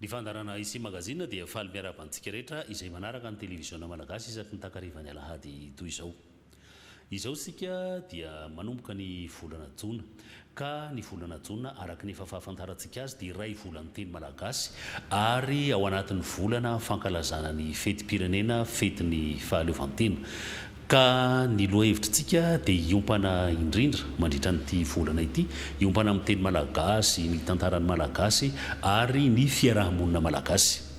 Ny fandaharana Ici Magazine dia faly miarahaba antsika rehetra izay manaraka ny televiziona malagasy isaky ny takarivan'ny alahady toy izao. Izao isika dia manomboka ny volana jona. ka ny volana jona araka ny efa fahafantarantsika azy dia iray volan'ny teny malagasy ary ao anatin'ny volana fankalazana ny fetim-pirenena fetin'ny fahaleovantena ka ny lohahevitritsika dia hiompana indrindra mandritra an'ity volana ity hiompana amin'ny teny malagasy, ny tantaran'ny malagasy ary ny fiaraha-monina malagasy.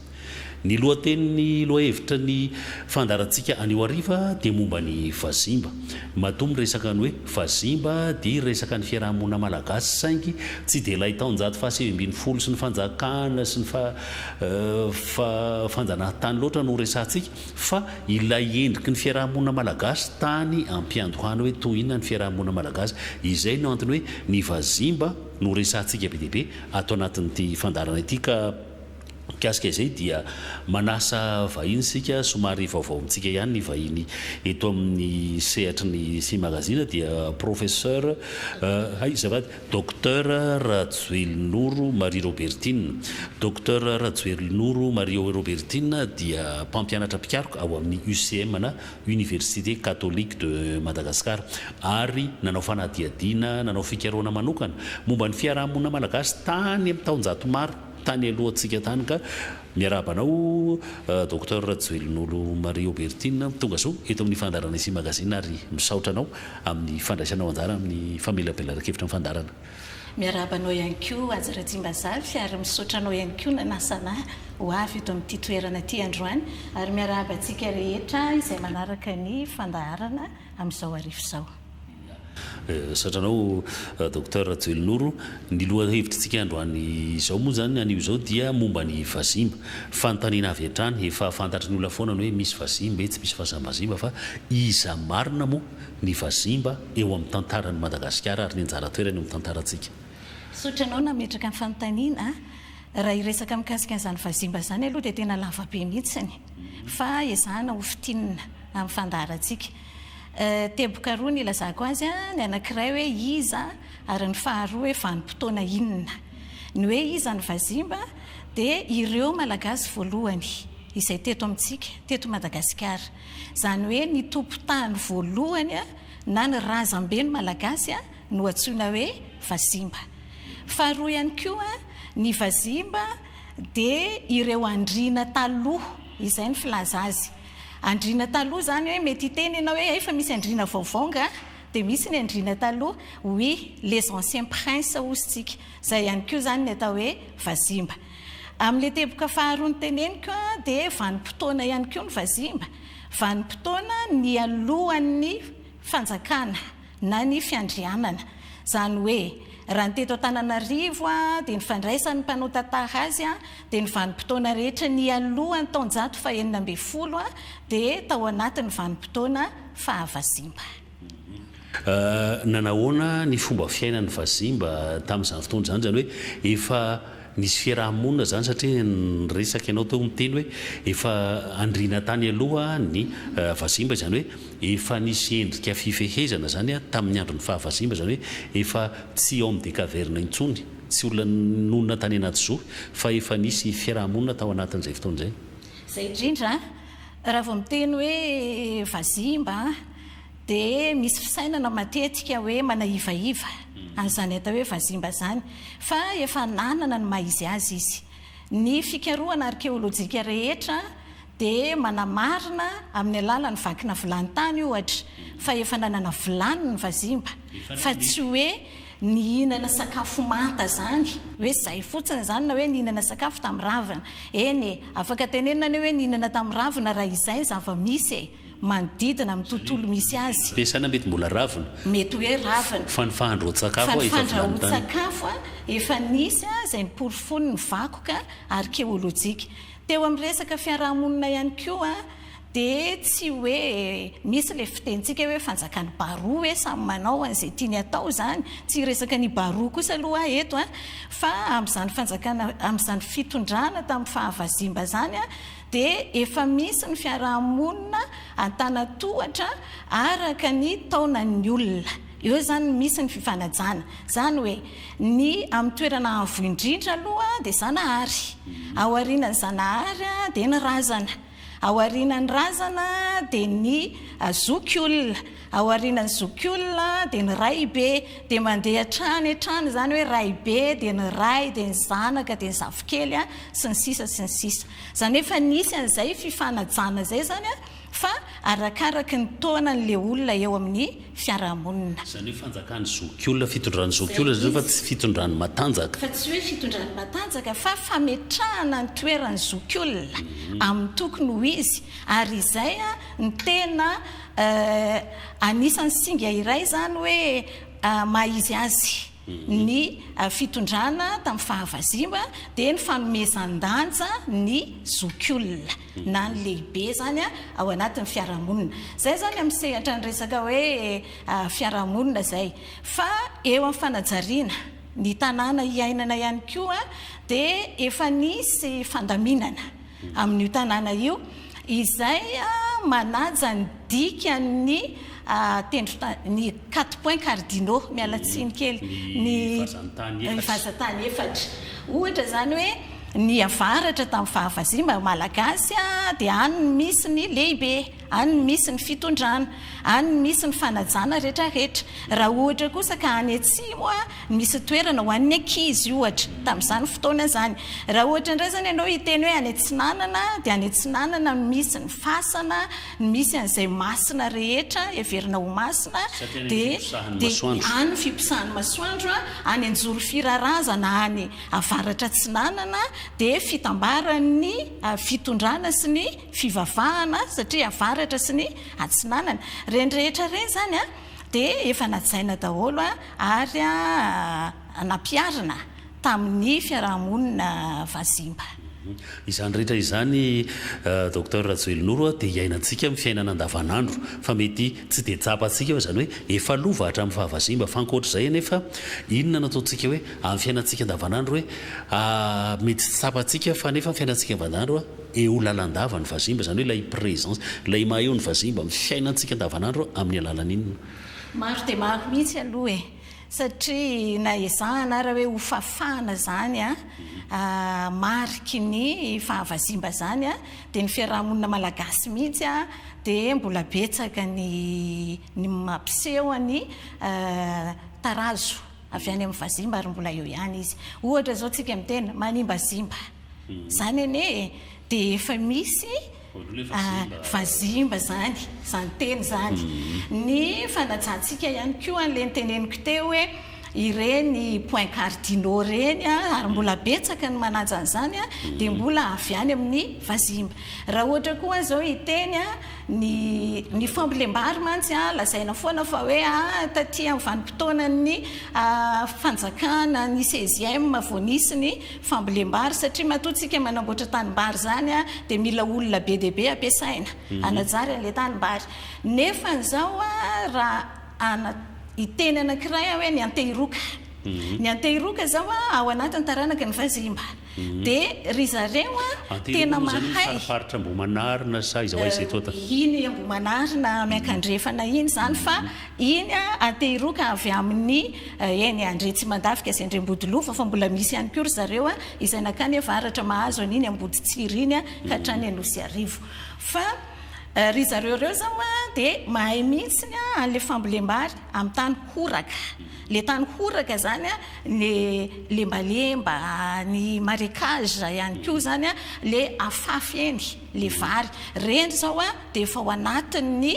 Ny lohatenin'ny lohahevitra ny fandaharantsika anio hariva dia momba ny vazimba. Matoa miresaka ny hoe vazimba dia resaka ny fiaraha-monina malagasy saingy tsy dia ilay taonjato fahasivy ambin'ny folo sy ny fanjakana sy ny fanjanahantany loatra no resahantsika fa ilay endriky ny fiaraha-monina malagasy tany ampiandohana hoe toy inona ny fiaraha-monina malagasy. Izay no antony hoe ny vazimba no resahantsika be dia be ato anatin'ity fandaharana ity ka Mikasika izay dia manasa vahiny isika somary vaovao amintsika ihany ny vahiny eto amin'ny sehatry ny sy magazine dia Professeur hay azafady Docteur Rajoelinoro Marie Robertine. Docteur Rajoelinoro Marie Robertine dia mpampianatra mpikaroka ao amin'ny UCM na Université Catholique de Madagascar ary nanao fanadihadiana nanao fikarohana manokana momba ny fiarahamonina malagasy tany amin'ny taonjato maro tany alohantsika tany ka miarahaba anao Docteur Rajoelinolo Marie Aubertine tonga soa eto amin'ny fandaharana Ici Magazine ary misaotra anao amin'ny fandraisanao anjara amin'ny famelabelaran-kevitra ny fandaharana. Miarahaba anao ihany koa Haja Rajimbazafy ary misaotra anao ihany koa nanasana ahy ho avy eto amin'ity toerana ity androany ary miarahaba antsika rehetra izay manaraka ny fandaharana amin'izao arivo izao. Misaotra anao Docteur Rajoelinoro. Ny lohahevitritsika androany izao moa izany, anio izao dia momba ny vazimba. Fanontaniana avy hatrany, efa fantatry ny olona foana ny hoe misy vazimba etsy, misy vazambazimba fa iza marina moa ny vazimba eo amin'ny tantaran'i Madagasikara ary ny anjara toerany eo amin'ny tantarantsika? Misaotra anao nametraka ny fanontaniana. Raha hiresaka mikasika an'izany vazimba izany aloha dia tena lavabe mihitsy fa ezahana ho fintinina amin'ny fandaharantsika. Teboka roa ny ilazako azy, ny anankiray hoe iza ary ny faharoa hoe vanim-potoana inona. Ny hoe iza ny vazimba dia ireo Malagasy voalohany izay teto amintsika, teto Madagasikara. Izany hoe ny tompon-tany voalohany na ny razamben'ny Malagasy no antsoina hoe vazimba. Faharoa ihany koa ny vazimba dia ireo andriana taloha, izay ny filaza azy. Andriana taloha izany hoe mety hiteny ianao hoe hay fa misy andriana vaovao nga? Dia misy ny andriana taloha, oui, les anciens princes hozy tsika. Izay ihany koa izany ny atao hoe vazimba. Amin'ilay teboka faharoa noteneniko dia vanim-potoana ihany koa ny vazimba, vanim-potoana nialohan'ny fanjakana. na ny fiandrianana. Izany hoe, raha ny teto Antananarivo dia ny fandraisan'ny mpanao tantara azy dia ny vanim-potoana rehetra nialohan'ny taonjato fahenina ambin'ny folo dia tao anatin'ny vanim-potoana faha-Vazimba. Nanahoana ny fomba fiainan'ny Vazimba tamin'izany fotoana izany? Izany hoe efa Nisy fiaraha-monina izany satria niresaka ianao teo miteny hoe efa andriana tany aloha ny vazimba izany hoe efa nisy endrika fifehezana izany tamin'ny andron'ny faha vazimba izany hoe efa tsy homme des cavernes intsony, tsy olona nonina tany anaty zo fa efa nisy fiaraha-monina tao anatin'izay fotoana izay. Izay indrindra raha vao miteny hoe vazimba. Dia misy fisainana matetika hoe manahivaiva an'izany atao hoe vazimba izany, fa efa nanana ny maha-izy azy izy. Ny fikarohana arkeolojika rehetra dia manamarina amin'ny alalan'ny vakina vilany tany, ohatra, fa efa nanana vilany ny vazimba, fa tsy hoe nihinana sakafo manta izany, hoe izay fotsiny izany, na hoe nihinana sakafo tamin'ny ravina, eny e, afaka tenenina anie hoe nihinana tamin'ny ravina raha izay ny zava-misy e. manodidina amin'ny tontolo misy azy. Ve sa na mety mbola ravina? Mety hoe ravina. Fanifahan-dRahotsakafo efa vilany tany. Fanifahan-dRahotsakafo efa nisy izay niporofoiny ny vakoka arkeolojika. Teo amin'ny resaka fiarahamonina ihany koa dia tsy hoe misy ilay fitenintsika hoe fanjakan'i Baroa hoe samy manao an'izay tiany atao izany. Tsy hiresaka an'i Baroa kosa aloha aho eto fa amin'izany fanjakana, amin'izany fitondrana tamin'ny faha vazimba izany, dia efa misy ny fiaraha-monina an-tanan-tohatra araka ny taonan'ny olona. Eo izany no misy ny fifanajana. Izany hoe ny amin'ny toerana avo indrindra aloha dia Zanahary, ao aorianan'i Zanahary dia ny razana, ao aorianan'ny razana dia ny zokiolona. Ao aorianan'ny zokiolona dia ny raibe dia mandeha hatrany hatrany izany hoe raibe dia ny ray dia ny zanaka dia ny zafikely a sy ny sisa sy ny sisa. Izany hoe efa nisy an'izay fifanajana izay izany a fa arakaraky ny taona an'ilay olona eo amin'ny fiarahamonina. Izany hoe fanjakan'ny zokiolona, fitondran'ny zokiolona izany fa tsy fitondran'ny matanjaka. Fa tsy hoe fitondran'ny matanjaka fa fametrahana ny toeran'ny zokiolona amin'ny tokony ho izy ary izay a ny tena Eh, anisan'ny singa iray izany hoe maha izy azy ny fitondrana tamin'ny fahavazimba dia ny fanomezan-danja ny zokiolona na ny lehibe izany ao anatin'ny fiarahamonina. Izay izany amin'ny sehatra ny resaka hoe fiarahamonina izay. Fa eo amin'ny fanajariana ny tanàna iainana ihany koa dia efa nisy fandaminana amin'io tanàna io, izay manaja ny dikan'ny tendron-tany, ny quatre points cardinaux, miala tsiny kely, ny vazan-tany efatra. Ohatra izany hoe ny avaratra tamin'ny fahavazimba malagasy dia any no misy ny lehibe. Any no misy ny fitondrana, any no misy ny fanajana rehetra rehetra. Raha ohatra kosa ka any atsimo a, misy toerana ho an'ny ankizy ohatra, tamin'izany fotoana izany. Raha ohatra indray izany ianao hiteny hoe any atsinanana dia any atsinanana no misy ny fasana, no misy an'izay masina rehetra, heverina ho masina, dia any no fiposahan'ny masoandro a, any anjory firarazana any avaratra atsinanana dia fitambaran'ny fitondrana sy ny. fivavahana satria avaratra sy ny atsinanana reny rehetra reny zany a de efa najaina daholo a ary a nampiarina tamin'ny fiarahamonina vazimba. Izany rehetra izany Docteur Rajoely Noro dia iainantsika amin'ny fiainana andavanandro fa mety tsy dia tsapantsika hoe izany hoe efa lova hatramin'ny faha vazimba fa ankoatr'izay anefa inona no ataontsika hoe amin'ny fiainantsika andavanandro hoe mety tsy tsapantsika fa anefa ny fiainantsika andavanandro Eo lalandava ny vazimba, izany hoe ilay presence, ilay maha eo ny vazimba amin'ny fiainantsika andavanandro amin'ny alalan'inona? Maro dia maro mihitsy aloha e! satria na ezahana ara hoe hofafana izany mariky ny fahavazimba izany dia ny fiarahamonina malagasy mihitsy dia mbola betsaka ny mampiseho ny tarazo avy any amin'ny vazimba ary mbola eo ihany izy. Ohatra izao tsika miteny manimbazimba, izany anie dia efa misy vazimba izany, izany teny izany. Ny fanajantsika ihany koa an'ilay noteneniko teo hoe ireny points cardinaux ireny ary mbola betsaka ny manaja an'izany dia mbola avy any amin'ny vazimba. Raha ohatra koa izao hiteny Ny ny fambolem-bary mantsy a, lazaina foana fa hoe a, taty amin'ny vanim-potoanan'ny fanjakana ny seizième vao nisy ny fambolem-bary, satria matoa tsika manamboatra tanim-bary izany a, dia mila olona be dia be ampiasaina hanajary an'ilay tanim-bary. Nefa an'izao a, raha ana hiteny anankiray aho hoe ny Antehiroka. Ny Antehiroka izao a, ao anatin'ny taranaky ny Vazimba. Dia ry zareo an, tena mahay. Ity moa izany fariparitra Ambohimanarina sa aiza ho aiza eto an? Iny Ambohimanarina miankandrefana iny izany fa iny an, Antehiroka avy amin'ny eny Andretsimandavika sy Andriambodilova fa mbola misy ihany koa ry zareo an, izay nankany avaratra mahazo an'iny Amboditsiry iny an, ka hatrany Anosiarivo. Fa ry zareo ireo izao an, dia mahay mihitsy an, an'ilay fambolem-bary amin'ny tany horaka. Le tany horaka zany a, le lembalemba, ny marecage ihany koa zany a, le afafy eny, le vary. Reny zao a, de efa ao anatin'ny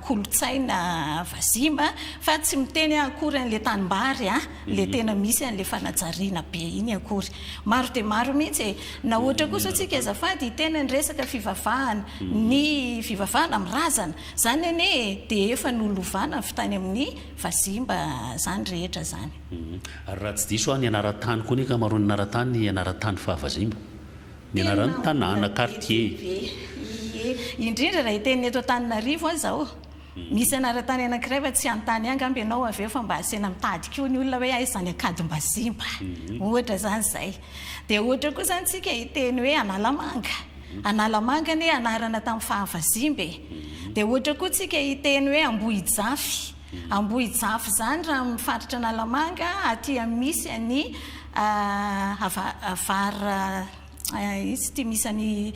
kolontsaina vazimba, fa tsy miteny aho akory an'le tanimbary a, le tena misy an'le fanajariana be iny akory. Maro dia maro mihitsy e. Na ohatra koa zao tsika azafady hiteny ny resaka fivavahana, ny fivavahana amin'ny razana, zany anie e, de efa nolovana avy tany amin'ny Vazimba zany rehetra zany. Ary raha tsy diso aho ny anaran-tany koa ny ankamaroan'ny anaran-tany dia anaran-tany fa vazimba ny anaran'ny tanàna, quartier. Ie, indrindra raha hiteny ny eto Antananarivo aho izao. Misy anaran-tany anankiray fa tsy hanontany ahy angamba ianao avy eo fa mba asiana mitady koa ny olona hoe aiza ny Ankadimbazimba. Ohatra izany izay. Dia ohatra koa izany isika hiteny hoe Analamanga. Analamanga anie anarana tamin'ny fahavazimba e! Dia ohatra koa tsika hiteny hoe Ambohijafy. Ambohijafy izany raha amin'ny faritra Analamanga aty amin'ny misy an'i Var iza ity misy an'i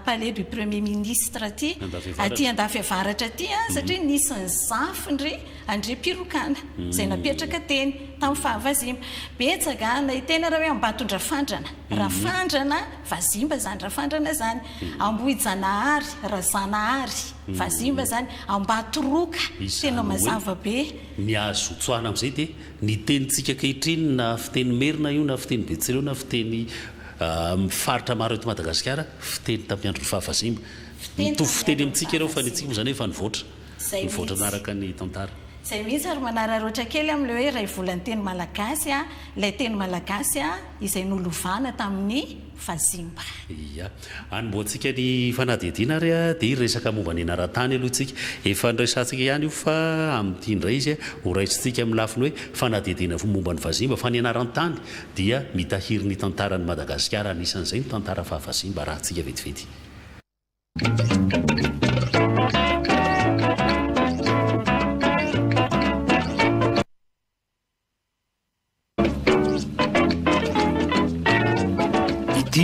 Palais du Premier Ministre aty, aty Andafiavaratra aty satria nisy ny zafin-dry Andriampirokana izay napetraka teny tamin'ny fahavazimba. Betsaka, na hiteny ary hoe Ambatondrafandrana, Rafandrana Vazimba izany Rafandrana izany, Ambohijanahary, Razanahary, Vazimba izany, Ambatoroka, tena mazava be. Izany hoe ny azo tsoahina amin'izay dia ny tenintsika ankehitriny na fiteny merina io na fiteny betsileo na fiteny amin'ny faritra maro eto Madagasikara fiteny tamin'ny andron'ny faha vazimba. Mitovy fiteny amintsika ireo fa ny antsika moa izany efa nivoatra. mivoatra anaraka ny tantara. Zay mihitsy ary manararoatra kely am le hoe raivola ny teny malagasy a, ilay teny malagasy a izay nolovana tamin'ny vazimba. Ia. Anombohantsika ny fanadihadiana ary dia hiresaka momba ny anaran-tany aloha isika. Efa niresahantsika ihany io fa amin'ity indray izy horaisintsika amin'ny lafiny hoe fanadihadiana fo momba ny vazimba fa ny anaran-tany dia mitahiry ny tantaran'i Madagasikara anisan'izay ny tantara faha vazimba arahintsika vetivety. Ity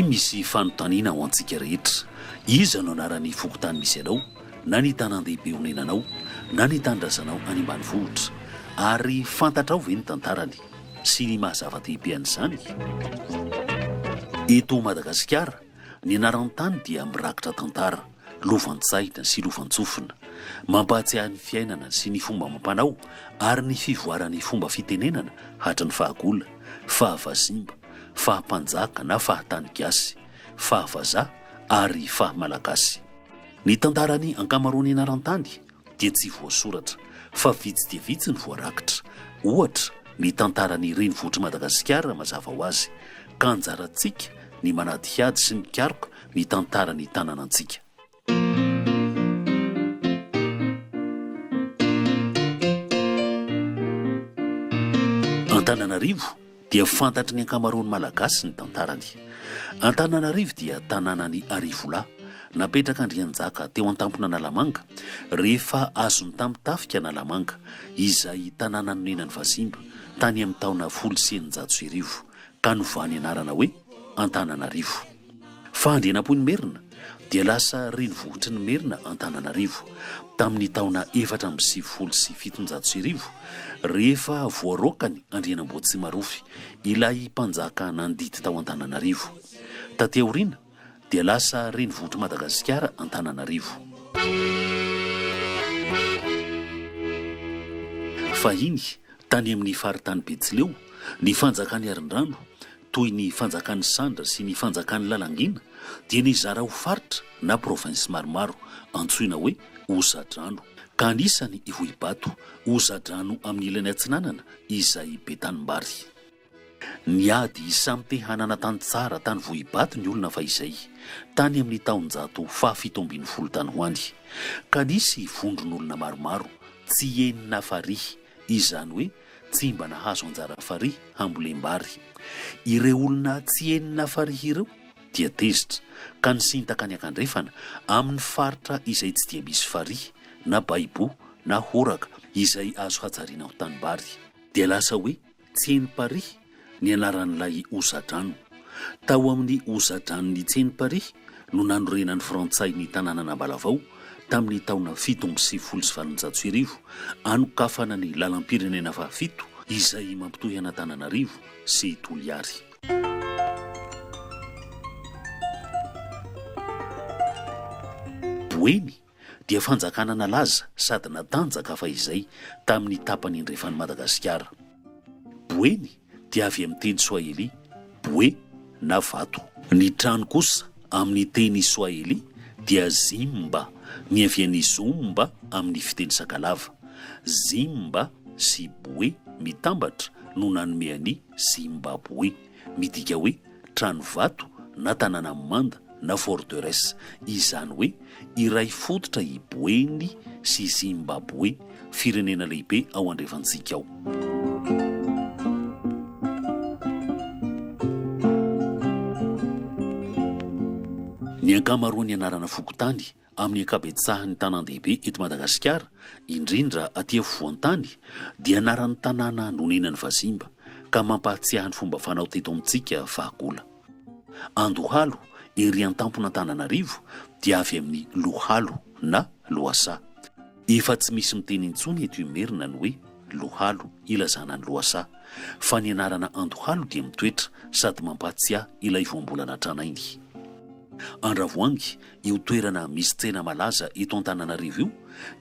misy fanontaniana ho antsika rehetra, iza no anaran'ny fokontany misy anao, na ny tanàn-dehibe onenanao, na ny tanindrazanao any ambanivohitra? Ary fantatrao ve ny tantarany, sy ny maha-zava-dehibe an'izany? Eto Madagasikara, Ny anaran'ny tany dia mirakitra tantara, lovan-tsaina sy lovan-tsofina. Mampahatsiahy ny fiainana sy ny fomba amam-panao ary ny fivoaran'ny fomba fitenenana hatry ny fahagola, fahavazimba, fahampanjaka na fahatany gasy, fahavazaha ary fahamalagasy. Ny tantaran'ny ankamaroan'ny anaran-tany dia tsy voasoratra, fa vitsy dia vitsy ny voarakitra. Ohatra, ny tantaran'ny renivohitr'i Madagasikara mazava ho azy, ka anjarantsika ny manadihady sy mikaroka ny tantaran'ny tanànantsika. Antananarivo, dia fantatry ny ankamaroan'ny Malagasy ny tantarany. Antananarivo dia tanànan'i Arivolahy, napetraka Andrianjaka teo an-tampon'Analamanga, rehefa azony tamin'ny tafika Analamanga, izay tanàna nonenan'i Vazimba, tany amin'ny taona folo sy eninjato sy arivo, ka novany anarana hoe Antananarivo. Fa Andrianampoinimerina dia lasa renivohitry ny Merina Antananarivo tamin'ny taona efatra amby sivifolo sy fitonjato sy arivo rehefa voaraokany Andrianamboatsimarofy ilay mpanjaka nandidy tao Antananarivo. Taty aoriana dia lasa renivohitr'i Madagasikara Antananarivo. Fahiny, tany amin'ny faritany Betsileo, ny fanjakan'i Arindrano, toy ny Fanjakan'i Sandra sy ny Fanjakan'i Lalangina dia nizara ho faritra na provinces maromaro antsoina hoe Ozadrano ka anisany Ivohibato, Ozadrano amin'ny ilany atsinanana izay be tanimbary. Niady samy te hanana tany tsara tany Vohibato ny olona fahizay, tany amin'ny taonjato fahafito ambin'ny folo tany ho any, ka nisy vondron'olona maromaro tsy henona farihy, izany hoe Tsy mba nahazo anjara farihy hambolem-bary. Ireo olona tsy henona farihy ireo dia tezitra ka nisintaka any an-kandrefana amin'ny faritra izay tsy dia misy farihy na baibo na horaka izay azo hajariana ho tanimbary. Dia lasa hoe tsy henm-parihy ny anaran'ilay hosa-drano. Tao amin'ny hosa-dranon'i Tsenimpary no nanorenan'ny Frantsay ny tanànan'Ambalavao tamin'ny taona fito amby sivifolo sy valonjato sy arivo, anokafana ny lalam-pirenena fahafito izay mampitohy an'Antananarivo sy Toliary. Boeny, dia fanjakana nalaza sady natanjaka fahizay tamin'ny tapany andrefan'i Madagasikara. Boeny dia avy amin'ny teny soahely bwe na vato. Ny trano kosa amin'ny teny soahely dia zimba, niavian'ny zumba amin'ny fiteny sakalava. Zimba sy bwe mitambatra no nanome an'i Zimbaboe. Midika hoe trano vato na tanàna manda na forteresse, izany hoe iray fototra i Boeny sy Zimbaboe, firenena lehibe ao andrefantsika ao. Ny ankamaroan'ny anarana fokontany Amin'ny ankabetsahan'ny tanàn-dehibe eto Madagasikara, indrindra aty afovoan-tany, dia anaran'ny tanàna nonenan'ny vazimba, ka mampahatsiahy ny fomba fanao teto amintsika fahagola. Andohalo, ery an-tampon'Antananarivo, dia avy amin'ny lohalo na lohasaha. Efa tsy misy miteny intsony eto Imerina ny hoe lohalo ilazana ny lohasaha, fa ny anarana Andohalo dia mitoetra sady mampahatsiahy ilay voambolana tranainy. Andravoahangy, Io toerana misy tsena malaza eto Antananarivo io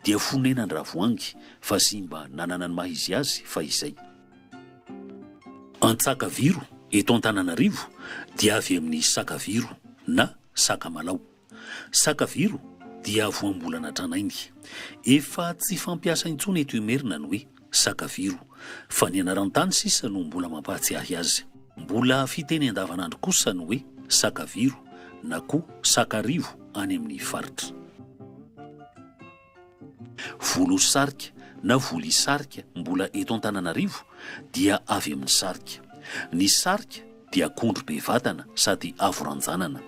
dia fonenan-dravoahangy fa simba nanana ny maha izy azy fahizay. Antsakaviro eto Antananarivo dia avy amin'ny sakaviro na sakamalaho. Sakaviro dia voambolana tranainy. Efa tsy fampiasa intsony eto Imerina ny hoe. Sakaviro. Fa ny anaran-tany sisa no mbola mampahatsiahy azy. Mbola fiteny andavanandro kosa ny hoe Sakaviro na koa Sakarivo any amin'ny faritra. Volosarika na Volisarika mbola eto Antananarivo dia avy amin'ny sarika. Ny sarika dia akondro be vatana sady avo ranjanana.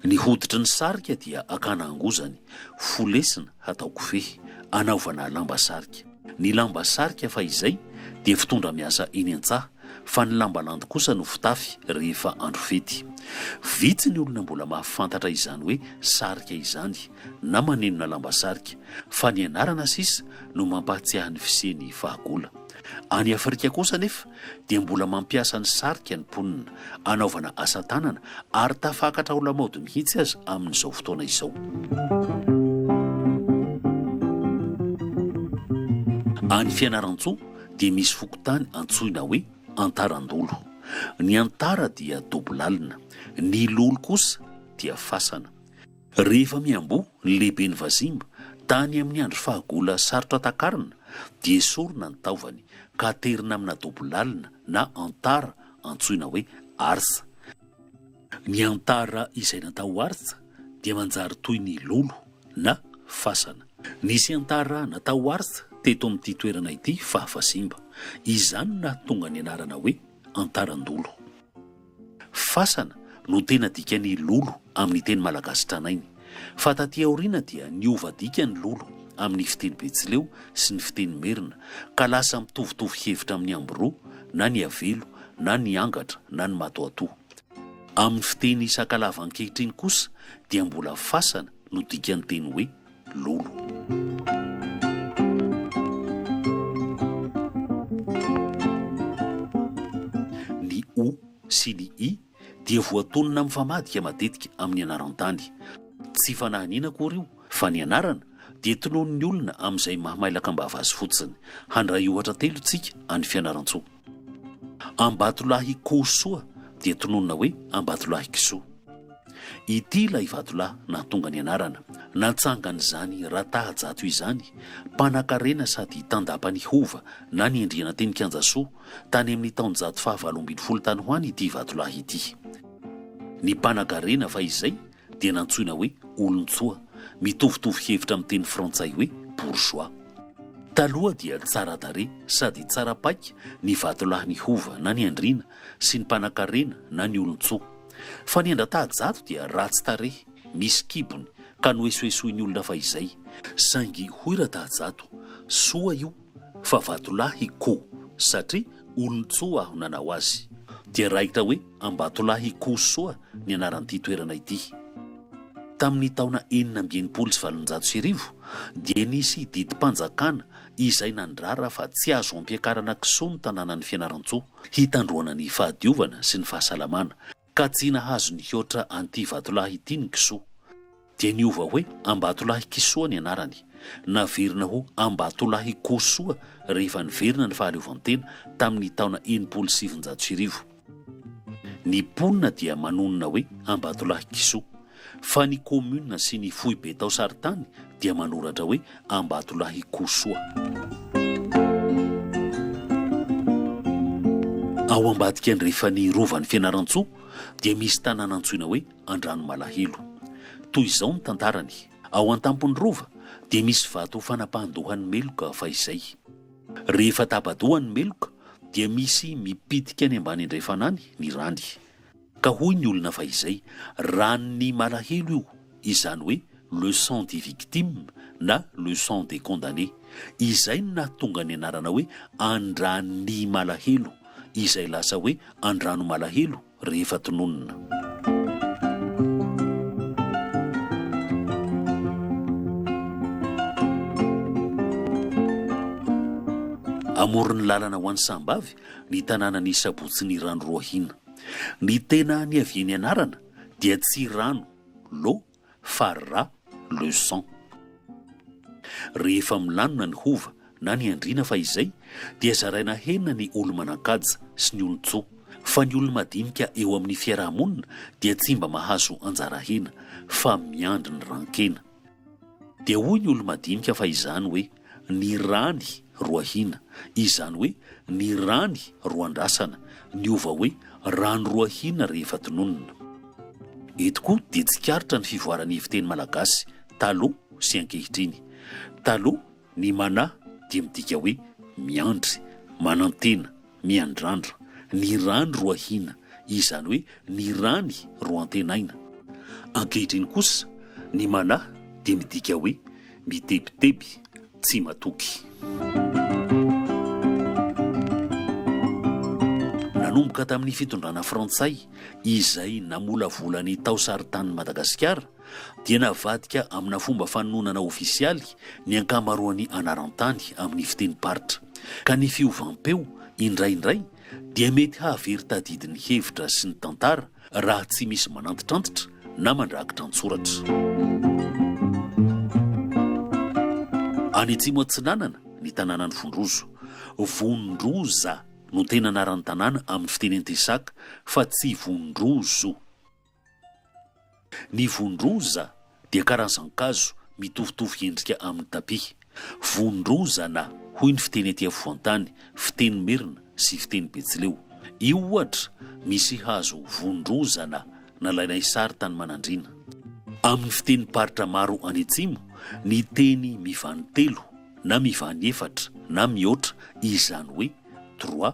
Ny hoditry ny sarika dia akana angozany, fo lesina hatao kofehy, anaovana lamba sarika. Ny lamba sarika fahizay dia fitondra miasa eny an-tsaha fa ny lamba landy kosa no fitafy rehefa andro fety. Vitsy ny olona mbola mahafantatra izany hoe sarika izany na manenona lamba sarika fa ny anarana sisa no mampahatsiahy ny fisian'ny fahagola. Any Afrika kosa anefa dia mbola mampiasa ny sarika ny mponina anaovana asa tanana ary tafakatra ho lamaody mihitsy aza amin'izao fotoana izao. Any Fianarantsoa dia misy fokontany antsoina hoe Antarandolo. Ny Antara dia dobo lalina, ny Lolo kosa dia fasana. Rehefa miamboho ny lehiben'ny vazimba, tany amin'ny andro fahagola sarotra takarina, dia esorina ny taovany, ka aterina amina dobo lalina na antara antsoina hoe artsa. Ny antara izay natao ho artsa dia manjary toy ny lolo na fasana. Nisy antara natao ho artsa teto amin'ity toerana ity faha vazimba. Izany no nahatonga ny anarana hoe antaran-dolo. Fasana no tena dikan'ny lolo amin'ny teny malagasy tranainy. Fa taty aoriana dia niova dika ny lolo amin'ny fiteny betsileo sy ny fiteny merina ka lasa mitovitovy hevitra amin'ny ambro na ny avelo na ny angatra na ny matoatoa. Amin'ny fiteny sakalava ankehitriny kosa dia mbola fasana no dikan'ny teny hoe lolo. Ny o sy ny i dia voatonona mifamadika matetika amin'ny anaran-tany. Tsy fanahiniana akory io fa ny anarana dia tononon'ny olona amin'izay mahamailaka am-bava azy fotsiny. Handray ohatra telo isika any Fianarantsoa. Ambatolahikihosoa dia tononina hoe Ambatolahikisoa. Ity ilay vatolahy nahatonga ny anarana natsangan'izany Ratahajato izany, mpanakarena sady tandapa ny hova na ny endriananteny Kianjasoa tany amin'ny taonjato fahavalo ambin'ny folo tany ho any ity vatolahy ity. Ny mpanakarena fahizay dia nantsoina hoe olon-tsoa, mitovitovy hevitra amin'ny teny frantsay hoe bourgeois. Taloha dia tsara tarehy sady tsara paika ny vatolahin'i Hova na ny andriana sy ny mpanankarena na ny olon-tsoa. Fa ny an-dRatahajato dia ratsy tarehy, misy kibony, ka noesoesoin'ny olona fahizay. Saingy hoy Ratahajato, soa io fa vatolahy ko satria olon-tsoa aho nanao azy dia raikitra hoe Ambatolahy Kosoa ny anaran'ity toerana ity. Tamin'ny taona enina amby enimpolo sy valonjato sy arivo dia nisy didim-panjakana izay nandrara fa tsy azo ampiakarana kisoa ny tanànan'i Fianarantsoa hitandroana ny fahadiovana sy ny fahasalamana Ka tsy nahazo nihoatra an'ity vatolahy ity ny kisoa. Dia niova hoe Ambatolahy Kisoa ny anarany. Naverina ho Ambatolahy Kosoa rehefa niverina ny fahaleovantena tamin'ny taona enimpolo sy sivinjato sy arivo. Ny mponina dia manonona hoe Ambatolahy Kisoa. Fa ny commune sy ny foibe tao Saritany dia manoratra hoe Ambatolahy Kosoa. Ao ambadika andrefan'ny Rovan'i Fianarantsoa dia misy tanàna antsoina hoe Andranomalahelo. Toy izao ny tantarany, ao an-tampon'ny rova dia misy vato fanapahan-dohan'ny meloka fahizay. Rehefa tapa-doha ny meloka dia misy mipitika any ambany andrefana any ny rany. Ka hoy ny olona fa izay, ran'ny malahelo io, izany hoe le sang des victimes na le sang des condamnés. Izay no nahatonga ny anarana hoe an-dran'ny malahelo, izay lasa hoe an-drano malahelo rehefa tononina. Amoron'ny lalana ho any Sahambavy ny tanànan'i Sabotsy Nirano Roahina. Ny tena niavian'ny anarana dia tsy rano, l'eau, fa ra, le sang. Rehefa milanona ny hova na ny andriana fahizay dia zaraina henina ny olo-manan-kaja sy ny olon-tsoa, fa ny olo-madinika eo amin'ny fiaraha-monina dia tsy mba mahazo anjara hena fa miandry ny ran-kena. Dia hoy ny olo-madinika fa izany hoe ny rany roahina, izany hoe ny rany roandrasana, niova hoe rano roahina rehefa tononina. Eto koa dia tsikaritra ny fivoaran'ny fiteny malagasy taloha sy ankehitriny. Taloha, ny mana dia midika hoe miandry, manantena, Miandrandra, ny rany roahina, izany hoe ny rany roantenaina. Ankehitriny kosa, ny mana dia midika hoe mitebiteby, tsy matoky. Nanomboka tamin'ny fitondrana frantsay, izay namolavola ny tao saritanin'i Madagasikara, dia navadika amina fomba fanononana ofisialy ny ankamaroan'ny anaran-tany amin'ny fitenim-paritra, ka ny fiovam-peo, indraindray, dia mety hahavery tadidy ny hevitra sy ny tantara raha tsy misy manantitrantitra na mandrakitra an-tsoratra. Any Atsimo Atsinanana, ny tanànan'i Vondrozo. Vondroza no tena anaran'ny tanàna amin'ny fiteny antesaka, fa tsy Vondrozo. Ny vondroza dia karazan-kazo mitovitovy endrika amin'ny tapi. Vondrozana, hoy ny fiteny aty afovoan-tany, fiteny merina sy fiteny betsileo. Io ohatra, misy hazo vondrozana nalainay sary tany Manandriana. Amin'ny fitenim-paritra maro any atsimo, ny teny mivany telo na mivany efatra na mihoatra izany hoe trois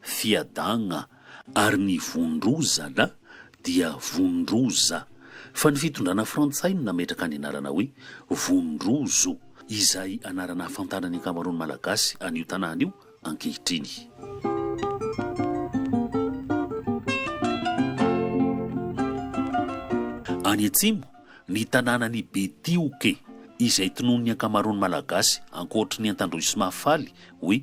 fiadagna ary ny Vondrozana dia Vondroza fa ny fitondrana frantsay no nametraka ny anarana hoe Vondrozo izay anarana ahafantaran'ny ankamaroan'ny Malagasy an'io tanàna io ankehitriny. Any atsimo, ny tanànan'i Betioke izay tonon'ny ankamaroan'ny Malagasy ankoatry ny Antandroy sy Mahafaly hoe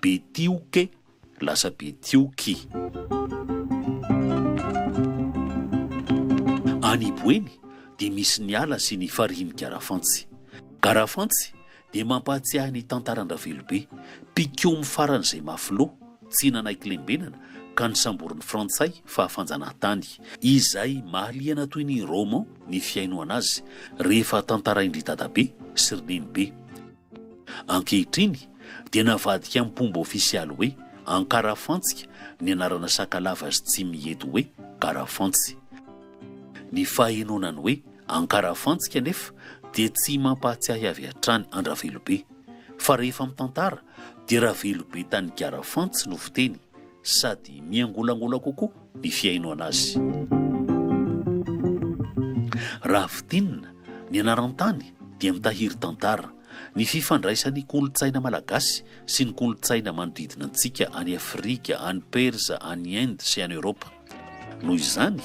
Betioke, lasa Betioky. Any Iboeny dia misy ny ala sy ny farihin'i Garafantsy. Garafantsy dia mampahatsiahy ny tantaran-dRavelobe, mpikomy faran'izay mafy loha, tsy nanaiky lembenana ka nosamborin'ny Frantsay fa fanjanahantany, izay mahaliana toy ny roman ny fihainoana azy rehefa tantarain-dry Dadabe sy ry Nenibe. Ankehitriny dia navadika mpomba ofisialy hoe Ankarafantsika ny anarana Sakalava sy Tsimihety hoe Karafantsy. Ny fahenoana ny hoe Ankarafantsika anefa dia tsy mampahatsiahy avy hatrany an-dRavelobe fa rehefa mitantara dia Ravelobe tany Karafantsy no fiteny sady miangolangola kokoa. ny fihainoana azy. Raha fintinina, ny anaran-tany dia mitahiry tantara, ny fifandraisan'ny kolontsaina malagasy sy ny kolontsaina manodidina antsika any Afrika, any Persa, any Inde sy any Eoropa. Noho izany,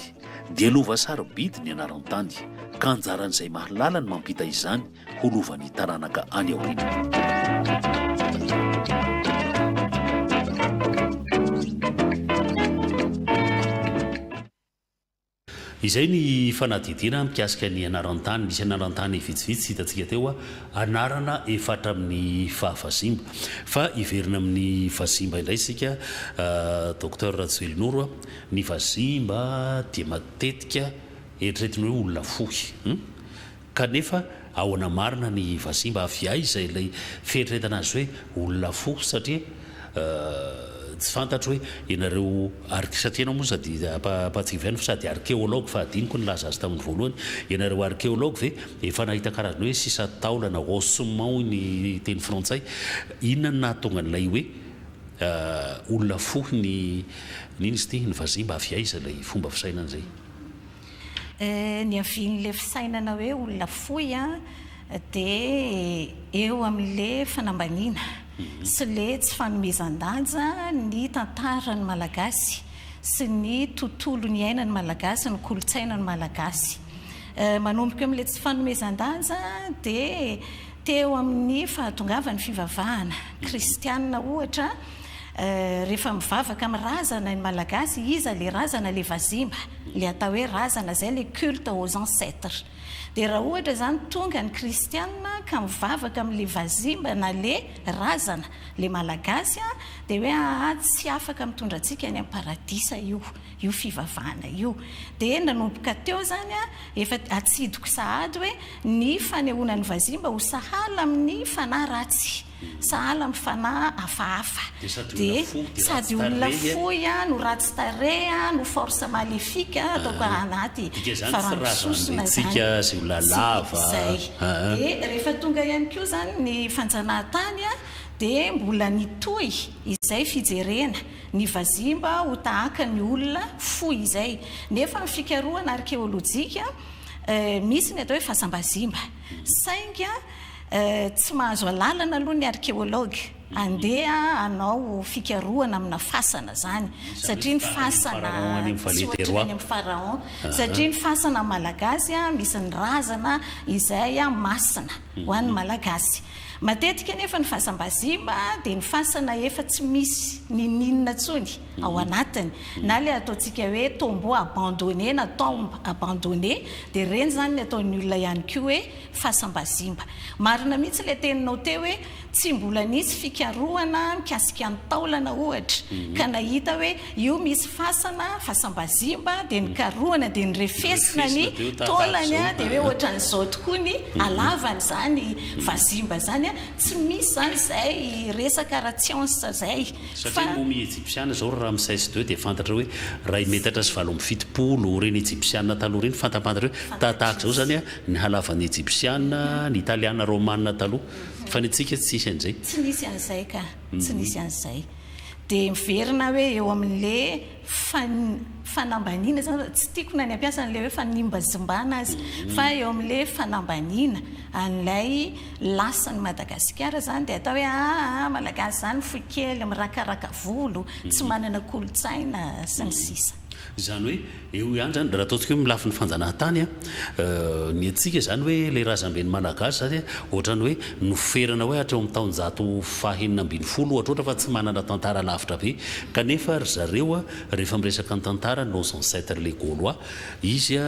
dia lova sarobidy ny anaran-tany, ka anjaran'izay mahalala ny mampita izany ho lovan'ny taranaka any aoriana. Izay ny fanadihadiana mikasika ny anaran-tany. Misy anaran-tany vitsivitsy hitantsika teo, anarana efa hatramin'ny faha vazimba. Fa hiverina amin'ny vazimba indray isika Docteur Rajoelinoro. Ny vazimba dia matetika eritreretin'ny hoe olona fohy. Kanefa ahoana marina ny vazimba? Avy aiza ilay fieritreretana azy hoe olona fo? Satria tsy fantatro hoe ianareo ark, satria ianao moa sady ampahatsiaviano fa sady arkeology fa hadinoko nilaza azy tamin'ny voalohany, ianareo arkeology ve efa nahita karazana hoe sisa taolana, ossements hoy ny teny frantsay? Inona no nahatonga an'ilay hoe olona fo ny, ny inona izy ity? Ny vazimba? Avy aiza ilay fomba fisainana izay? Niavian'ilay fisainana hoe olona fohy dia eo amin'ilay fanambaniana sy ilay tsy fanomezan-danja ny tantaran'ny Malagasy sy ny tontolo niainan'ny Malagasy, ny kolontsainan'ny Malagasy. Manomboka eo amin'ilay tsy fanomezan-danja dia teo amin'ny fahatongavan'ny fivavahana kristianina ohatra, Euh refa mivavaka am razana ny malagasy iza le razana le vazimba le atao hoe razana zay le culte aux ancetres de ra ohatra zany tonga ny kristiana ka mivavaka am le vazimba na le razana le malagasy a de hoe aa tsy afaka mitondra antsika any am paradisa io io fivavahana io de nanomboka teo zany a efa atsidiko sahady hoe ny fanehoana ny vazimba ho sahala am ny fanahy ratsy Sahala amin'ny fanahy hafahafa. Dia sady olona fohy no ratsy tarehy no force maléfique ataoko anaty faran'bisosona izany sy izay. Dia rehefa tonga ihany koa izany ny fanjanahantany dia mbola nitohy izay fijerena ny vazimba ho tahaka ny olona fohy izay. Nefa amin'ny fikarohana arkeolojika misy ny atao hoe fasam-bazimba. Saingy tsy mahazo alalana aloha ny arkeology handeha hanao fikarohana amina fasana izany satria ny fasana tsy ohatry ny any amin'ny pharaon satria ny fasana malagasy misy ny razana izay masina ho an'ny malagasy. Matetika anefa ny fasam-bazimba dia ny fasana efa tsy misy ninoninona intsony. ao anatiny na ilay ataontsika hoe tombeau abandonné na tombe abandonnée dia ireny izany ny ataon'ny olona ihany koa hoe fasam-bazimba. Marina mihitsy ilay teninao teo hoe tsy mbola nisy fikarohana mikasika ny taolana ohatra ka nahita hoe io misy fasana, fasam-bazimba dia nikarohana dia nirefesina ny taolany dia hoe ohatran'izao tokoa ny halavany izany vazimba izany. Tsy misy izany izay resaka ara-tsiansa izay. Satria momy Ejipsiana izao ry Ramsès ii dia fantatra hoe iray metatra sy valo amby fitopolo, ireny Ejipsiana taloha ireny fantampantatra hoe tahatahaka izao izany ny halavan'ny Ejipsiana, ny Italiana, Romana taloha. Fa ny antsika tsy nisy an'izay. Tsy nisy an'izay ka. Tsy nisy an'izay. Dia miverina hoe eo amin'ilay fa ny fanambaniana izany raha, tsy tiako na ny hampiasa an'ilay hoe fanimbazimbana aza, fa eo amin'ilay fanambaniana an'ilay lasan'i Madagasikara izany dia atao hoe aa Malagasy izany fohy kely, mirakaraka volo, tsy manana kolontsaina sy ny sisa. Izany hoe eo ihany izany, raha ataontsika hoe amin'ny lafiny fanjanahantany an, Ny antsika izany hoe ilay razamben'ny Malagasy izany ohatran'ny hoe noferana hoe hatreo amin'ny taonjato fahenina ambin'ny folo ohatra ohatra fa tsy manana tantara lavitra be kanefa ry zareo rehefa miresaka ny tantara nos ancêtres les gaulois izy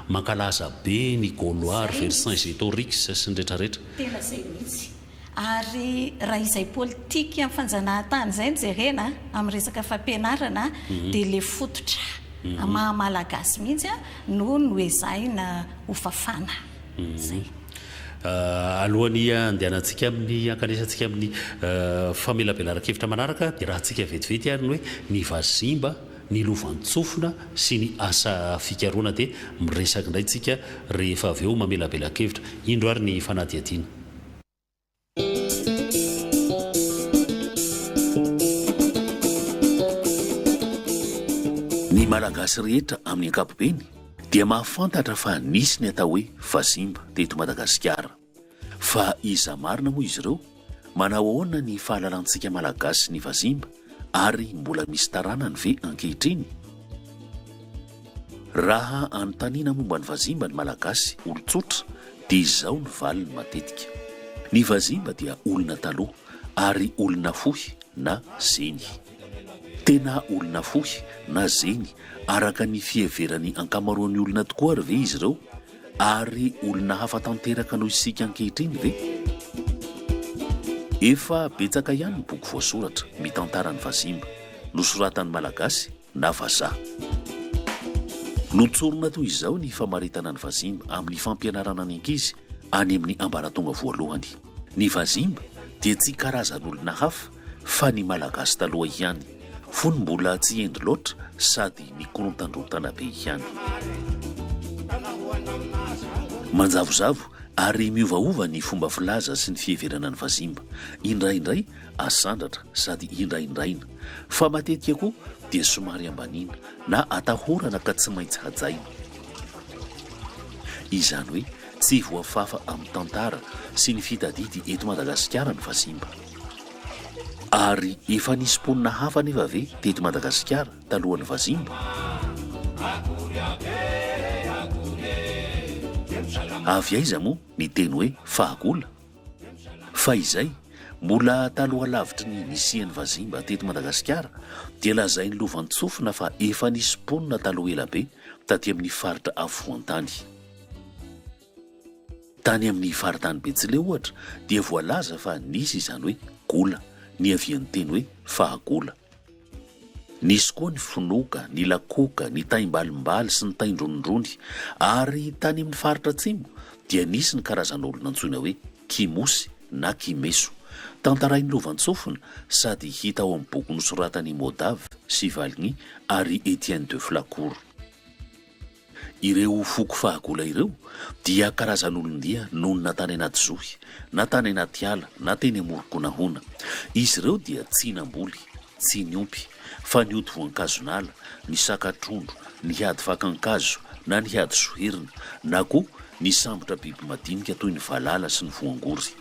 mankalaza be ny gaulois ry Vercingétorix sy ny retraretra. Ary raha izay politikan'ny fanjanahantany izay no jerena amin'ny resaka fampianarana dia ilay fototra maha Malagasy mihitsy no noezahina ho fafana. Izay. Alohan'ny handehanantsika amin'ny, hankanesantsika amin'ny famelabelaran-kevitra manaraka dia raha antsika vetivety ary ny hoe ny vazimba, ny lovantsofina sy ny asa fikarohana dia miresaky indray tsika rehefa avy eo mamelabelankevitra. Indro ary ny fanadihadiana. Ny Malagasy rehetra amin'ny ankapobeny dia mahafantatra fa nisy ny atao hoe Vazimba teto Madagasikara. Fa iza marina moa izy ireo? Manao ahoana ny fahalalantsika Malagasy sy ny vazimba ary mbola misy taranany ve ankehitriny? Raha anontaniana momba ny vazimba ny Malagasy olon-tsotra dia izao ny valiny matetika, Ny vazimba dia olona taloha ary olona fohy na zeny. Tena olona fohy na zeny araka ny fiheveran'ny ankamaroan'ny olona tokoa ary ve izy ireo? Ary olona hafa tanteraka noho isika ankehitriny ve? Efa betsaka ihany ny boky voasoratra mitantara ny vazimba, nosoratan'ny Malagasy na vazaha. Notsorina toy izao ny famaritana ny vazimba amin'ny fampianarana ny ankizy any amin'ny ambaratonga voalohany. Ny vazimba dia tsy karazan'olona hafa fa ny Malagasy taloha ihany, fony mbola tsy hendy loatra sady mikorontandrontana be ihany. Manjavozavo ary miovaova ny fomba filaza sy ny fiheverana ny vazimba, indraindray asandratra sady indraindraina, fa matetika koa dia somary ambaniana na atahorana ka tsy maintsy hajaina. Izany hoe Tsy voafafa amin'ny tantara sy ny fitadidy eto Madagasikara ny vazimba. Ary efa nisy mponina hafa anefa ve teto Madagasikara talohan'ny vazimba? Avy aiza moa ny teny hoe fahagola? Fahizay, mbola taloha lavitry ny nisian'ny vazimba teto Madagasikara dia lazain'ny lovantsofina fa efa nisy mponina taloha ela be taty amin'ny faritra afovoan-tany. Tany amin'ny faritany Betsileo ohatra dia voalaza fa nisy izany hoe gola, niavian'ny teny hoe fahagola. Nisy koa ny fonoka, ny lakoka, ny taimbalimbaly sy ny taindronindrony ary tany amin'ny faritra atsimo dia nisy ny karazan'olona antsoina hoe kimosy na kimeso, tantarain'i Lovantsofina sady hita ao amin'ny boky nosoratan'i Modav sy Valgny ary Etienne de Flacourt. Ireo foko fahagola ireo dia karazan'olon-dia nonina tany anaty zohy, na tany anaty ala, na teny amoron-konahona. Izy ireo dia tsy namboly, tsy niompy, fa nioty voankazon'ala, nisaka trondro, nihady fakan-kazo, na nihady soherina, na koa nisambotra biby madinika toy ny valala sy ny voangory.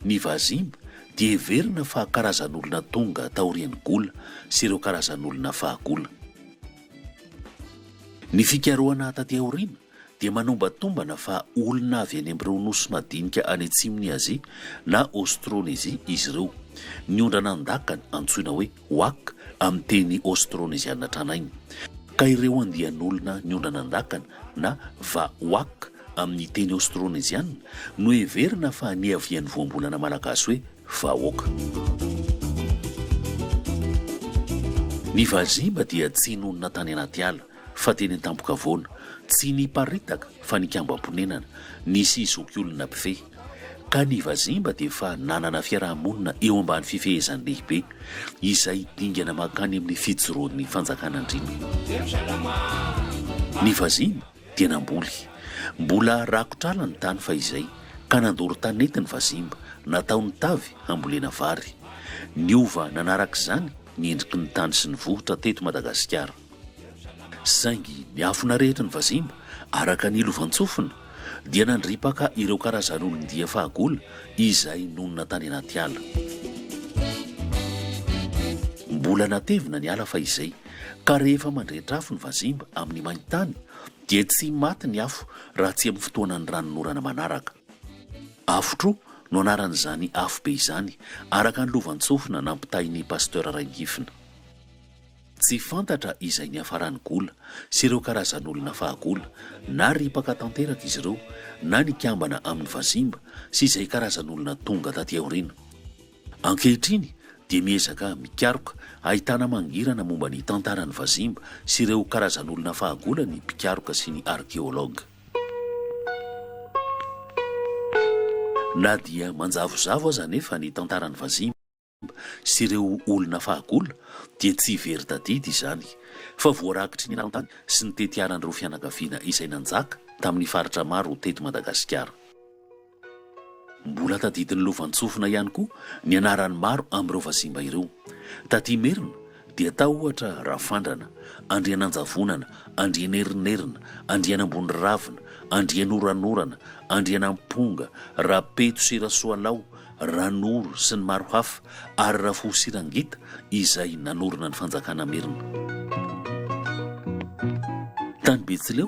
Ny Vazimba dia heverina fa karazan'olona tonga taorian'i Gola sy ireo karazan'olona fahagola. Ny fikarohana taty aoriana dia manombatombana fa olona avy any amin'ireo nosy madinika any atsimon'i Azia na Aostrônezia izy ireo. Ny ondra nandakany, antsoina hoe Wak, amin'ny teny aostrôneziana tranainy, ka ireo andian'olona niondrana an-dakana na va wak amin'ny teny aostrôneziana no heverina fa niavian'ny voambolana malagasy hoe vahoaka. Ny vazimba dia tsy nonina tany anaty ala, Fa teny an-tampon-kavoana, tsy niparitaka fa nikambam-ponenana, nisy zokiolona mpifehy. Ka ny Vazimba dia efa nanana fiaraha-monina eo ambany fifehezan'ny lehibe, izay dingana mankany amin'ny fijoroan'ny fanjakan'Andriana. Ny Vazimba dia namboly. Mbola rakotr'ala ny tany fahizay, ka nandoro tanety ny Vazimba, nataony tavy hambolena vary. Niova nanarak'izany ny endriky ny tany sy ny vohitra teto Madagasikara. Saingy miafina rehetra ny vazimba, araka ny lovantsofina, dia nandripaka ireo karazan'olon-dia fahagola izay nonina tany anaty ala. Mbola natevina ny ala fahizay, ka rehefa mandrehitra afo ny vazimba amin'ny main-tany, dia tsy maty ny afo raha tsy amin'ny fotoanan'ny ranonorana manaraka. Afotro no anaran'izany afobe izany, araka ny lovantsofina nampitain'i Pasteur Rainihifina. Tsy fantatra izay niafaran'i Gola sy ireo karazan'olona fahagola, na ripaka tanteraka izy ireo, na nikambana amin'ny vazimba sy izay karazan'olona tonga taty aoriana. Ankehitriny dia miezaka mikaroka ahitana mangirana momba ny tantaran'ny vazimba sy ireo karazan'olona fahagola ny mpikaroka sy ny arkeologa. Na dia manjavozavo aza anefa ny tantaran'ny vazimba, sy ireo olona fahagola dia tsy very tadidy izany fa voarakitry ny eran-tany sy ny tetiaran'ireo fianakaviana izay nanjaka tamin'ny faritra maro teto Madagasikara. Mbola tadidin'ny lovantsofina ihany koa ny anaran'ny maro amin'ireo vazimba ireo. Taty Imerina dia tao ohatra Rafandrana, Andriananjavonana, Andrianerinerina, Andrianamboniravina, Andrianoranorana, Andrianamponga, Rapeto sy Rasoalao, Ranoro sy ny maro hafa ary Rafoho sy Rangita izay nanorina ny fanjakana merina. Tany Betsileo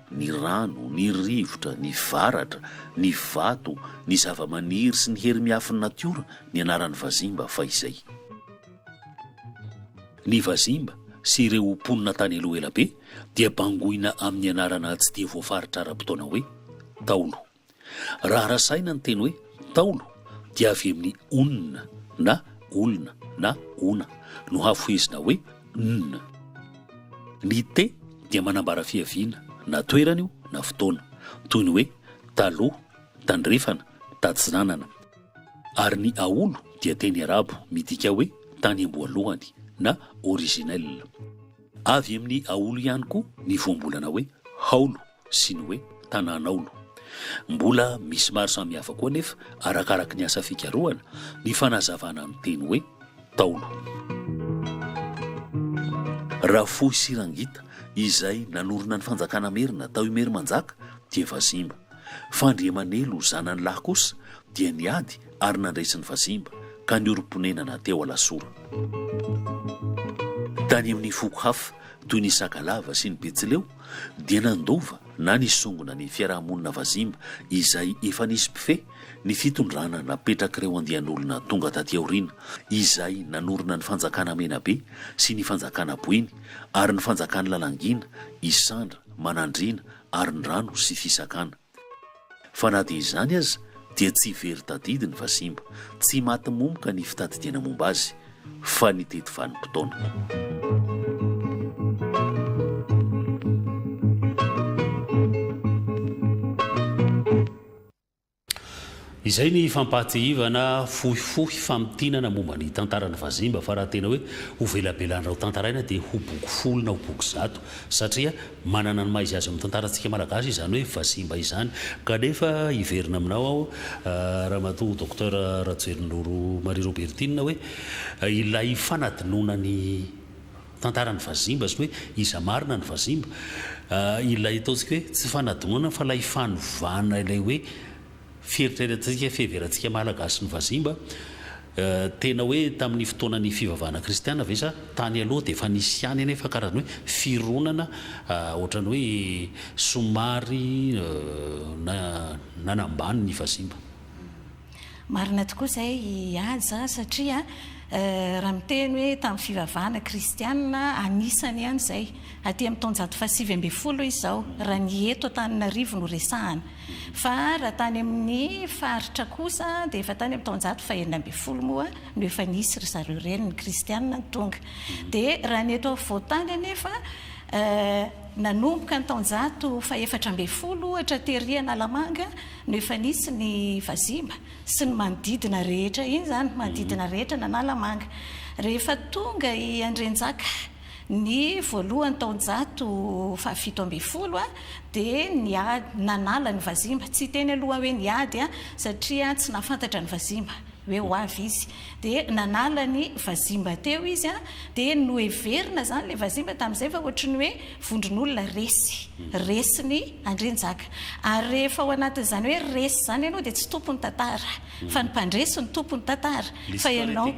ny rano, ny rivotra, ny varatra, ny vato, ny zavamaniry sy ny hery miafin'ny natiora ny anaran'ny Vazimba fahizay. Ny Vazimba sy ireo mponina tany aloha elabe dia bangoina amin'ny anarana tsy dia voafaritra ara-potoana hoe, Taolo. Raha rasaina ny teny hoe Ntaolo dia avy amin'ny onona na olona na ona no hafohezina hoe nona. Ny te dia manambara fiaviana na toerana io na fotoana, toy ny hoe taloha, tandrefana, tatsinanana. Ary ny aolo dia teny arabo midika hoe tany amboalohany na originel. Avy amin'ny aolo ihany koa ny voambolana hoe haolo. sy ny hoe tanànaolo. Mbola misy maro samihafa koa anefa, arakaraky ny asa fikarohana, ny fanazavana ny teny hoe taolo. Rafohysirangita, izay nanorina ny fanjakana merina tao Imerimanjaka, dia vazimba. Fandriamanelo zanany lahy kosa dia niady ary nandresy ny vazimba, ka niorim-ponenana teo Alasora. Tany amin'ny foko hafa, toy ny Sakalava sy ny Betsileo, dia nandova na nisongona ny fiaraha-monina vazimba izay efa nisy mpifehy ny fitondrana napetrak'ireo andian'olona tonga taty aoriana izay nanorina ny fanjakana Menabe sy ny fanjakana Boeny ary ny fanjakan'i Lalangina, Isandra, Manandriana, Arindrano sy Fisakana. Fa na dia izany aza dia tsy very tadidy ny vazimba, tsy maty momoka ny fitadidiana momba azy, fa ny teto vanim-potoana. Izay ny fampahatsiahivana fohifohy famintinana momba ny tantaran'ny Vazimba fa raha tena hoe ho velabelan'ra ho tantaraina dia ho boky folo na ho boky zato satria manana ny maha izy azy amin'ny tantarantsika malagasy izany hoe Vazimba izany kanefa hiverina aminao aho Ramatoa Docteur Rajoelinoro Marie Robertine hoe ilay fanadinoana ny tantaran'ny Vazimba sy ny hoe iza marina ny Vazimba ilay ataontsika hoe tsy fanadinoana fa ilay fanovana ilay hoe Fieritreretantsika fiheverantsika Malagasy ny vazimba, tena hoe tamin'ny fotoanan'ny fivavahana kristiana ve sa tany aloha dia efa nisy ihany anefa karazana hoe fironana ohatran'ny hoe somary nanambany ny vazimba? Marina tokoa izay i Haja satria raha miteny hoe tamin'ny fivavahana kristiana anisany ihany izay, aty amin'ny taonjato fahasivy ambin'ny folo izao raha ny eto Antananarivo no resahana. Fa raha tany amin'ny faritra kosa dia efa tany amin'ny taonjato fahenina ambin'ny folo moa no efa nisy ry zareo ireny ny kristianina no tonga. Dia raha ny eto afovoan-tany anefa nanomboka ny taonjato fahefatra ambin'ny folo ohatra tery Analamanga no efa nisy ny vazimba sy ny manodidina rehetra iny izany, manodidina rehetra an'Analamanga. Rehefa tonga i Andrianjaka. Ny voalohany taonjato fahafito ambin'ny folo dia niady, nanala ny vazimba, tsy hiteny aloha aho hoe niady satria tsy nahafantatra ny vazimba hoe ho avy izy, dia nanala ny vazimba teo izy dia noheverina izany ilay vazimba tamin'izay fa ohatry ny hoe vondron'olona resy, resin'i Andrianjaka. Ary rehefa ao anatin'izany hoe resy izany ianao dia tsy tompon'ny tantara. Fa ny mpandresy no tompony tantara fa ianao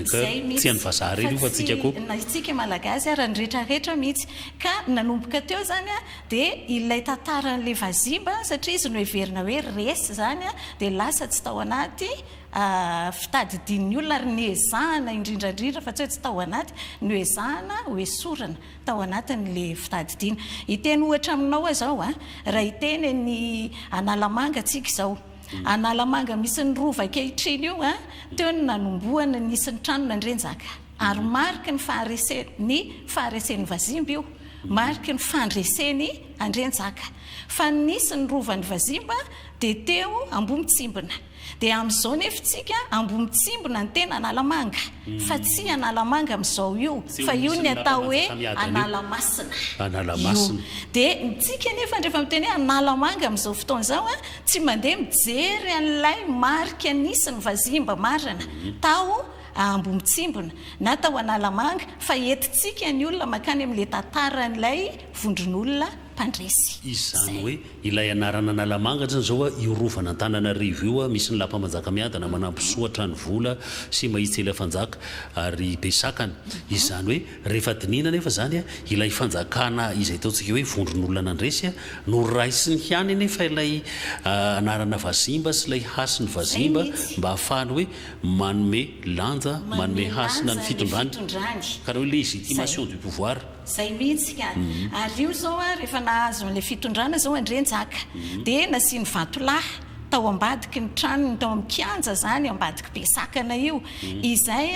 Zay mitsy fa tsy na itsika malagasy ara ny rehetra rehetra mitsy ka nanomboka teo zany a de ilay tantaran le vazimba satria izy no heverina hoe resy zany a de lasa tsy tao anaty fitadidin ny olona ary niezahana indrindra indrindra fa tsy hoe tsy tao anaty noezahana ho esorina tao anatin le fitadidiana hiteny ohatra aminao aho zao a raha hiteny any analamanga tsika zao Analamanga misy ny Rova ankehitriny io an, teo no nanombohana nisy ny tranona Andrianjaka. Ary mariky ny faharesen ny faharesen'ny Vazimba io, mariky ny fandresen'i Andrianjaka. Fa ny nisy ny Rovan'ny Vazimba dia teo Ambohimitsimbina. Dia amin'izao nefy tsika Ambohimitsimbina no tena Analamanga, fa tsy Analamanga amin'izao io, fa io ny atao hoe Analamasina io. Dia ny tsika nefany rehefa miteny hoe Analamanga amin'izao fotoana izao an, Tsy mandeha mijery an'ilay marika nisy ny vazimba marina tao Ambohitsimbona na tao Analamanga fa entintsika ny olona mankany amin'ilay tantaran'ilay vondron'olona mpandresy izany. Hoe ilay anaran'Analamanga izany izao a, io rovan'Antananarivo io a, misy ny lapa Manjakamiadana, Manambosoa, Tranovola sy Mahitsy Eliafanjaka ary Besakana. Izany hoe. Rehefa dinihina anefa izany, ilay fanjakana izay ataontsika hoe vondron'olona nandresy, noraisiny ihany anefa ilay anarana vazimba sy ilay hasiny vazimba mba hahafahany hoe manome lanja, manome hasina ny fitondrany, karaha hoe légitimation du pouvoir. Izay mihitsy ka. Ary io izao rehefa nahazo an'ilay fitondrana izao Andrianjaka dia nasiany vatolahy tao ambadiky ny tranony tao amin'ny kianja izany ambadiky be sakana io izay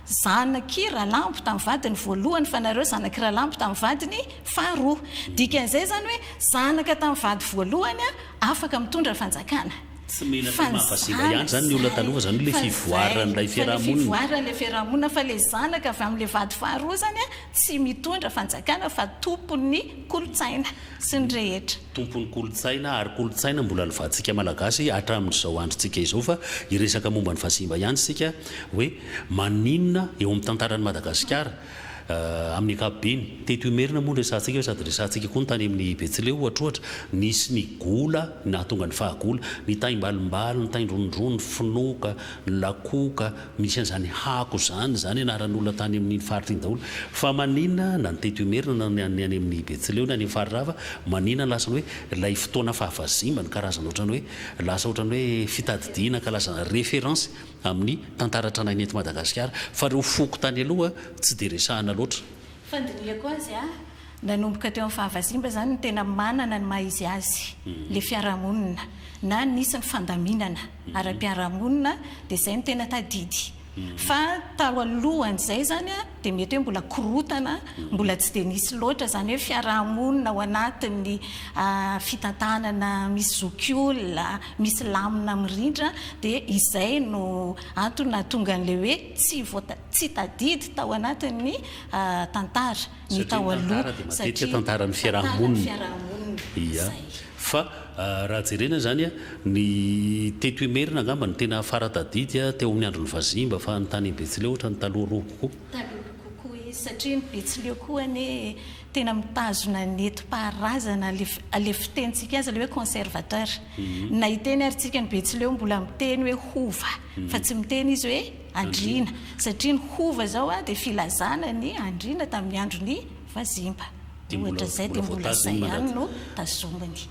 Zanak' i Ralambo tamin'ny vadiny voalohany fa nareo zanak' i Ralambo tamin'ny vadiny faharoa. Dikan'izay izany hoe zanaka tamin'ny vady voalohany afaka mitondra fanjakana. Tsy menatra ny maha vazimba ihany izany ny olona taloha fa izany hoe ilay fivoaran'ilay fiarahamonina. Fa ilay fivoaran'ilay fiarahamonina fa ilay zanaka avy amin'ilay vady faharoa izany tsy mitondra fanjakana fa tompon'ny kolontsaina. Tsy ny rehetra. Tompon'ny kolontsaina ary kolontsaina mbola alovahantsika Malagasy hatramin'izao androntsika izao fa hiresaka momba an'i Vazimba ihany isika hoe maninona eo amin'ny tantaran'i Madagasikara amin'ny ankapobeny. Teto Imerina moa no resahantsika fa sady resahantsika koa ny tany amin'ny Betsileo ohatrohatra. Nisy ny gola nahatonga ny fahagola, ny taimbalimbaly, ny taindrondrony, ny finoka, ny lakoka, Misy an'izany Hako izany, izany anaran'olona tany amin'iny faritra iny daholo. Fa manina na ny teto Imerina na ny any amin'ny Betsileo na any amin'ny Farirava, manina ny lasa ny hoe ilay fotoana fahavazimbany, karazana ohatran'ny hoe lasa ohatran'ny hoe fitadidiana kalazana, référence, amin'ny tantara tranainy eto Madagasikara. Fa ireo foko tany aloha tsy dia resahana loatra. Fandinihako azy a! Nanomboka teo amin'ny fahavazimba izany ny tena manana ny maha izy azy ilay fiarahamonina na nisy ny fandaminana ara-piarahamonina dia izay no tena tadidy. Fa tao alohan'izay izany dia mety hoe mbola korontana, mbola tsy dia nisy loatra izany hoe fiarahamonina ao anatin'ny fitantanana misy zokiolona, misy lamina mirindra dia izay no antony nahatonga an'ilay hoe tsy voata-, tsy tadidy tao anatin'ny tantara. ny tao aloha satria tantara dia matetika tantaran'ny fiarahamonina ia fa raha jerena izany ny teto imerina angamba no tena fara tadidy teo amin'ny andron'ny vazimba fa ny tany betsileo ohatrany taloha roa kokoa satria ny betsileo koa anie tena mitazona netim-paharazana ilay fitenintsika azy ilay hoe conservateur na hiteny ary tsika ny betsileo mbola miteny hoe hova fa tsy miteny izy hoe andriana satria ny hova zao a de filazana ny andriana tamin'ny andron'ny vazimba ohatra zay de mbola zay ihany no tazominy.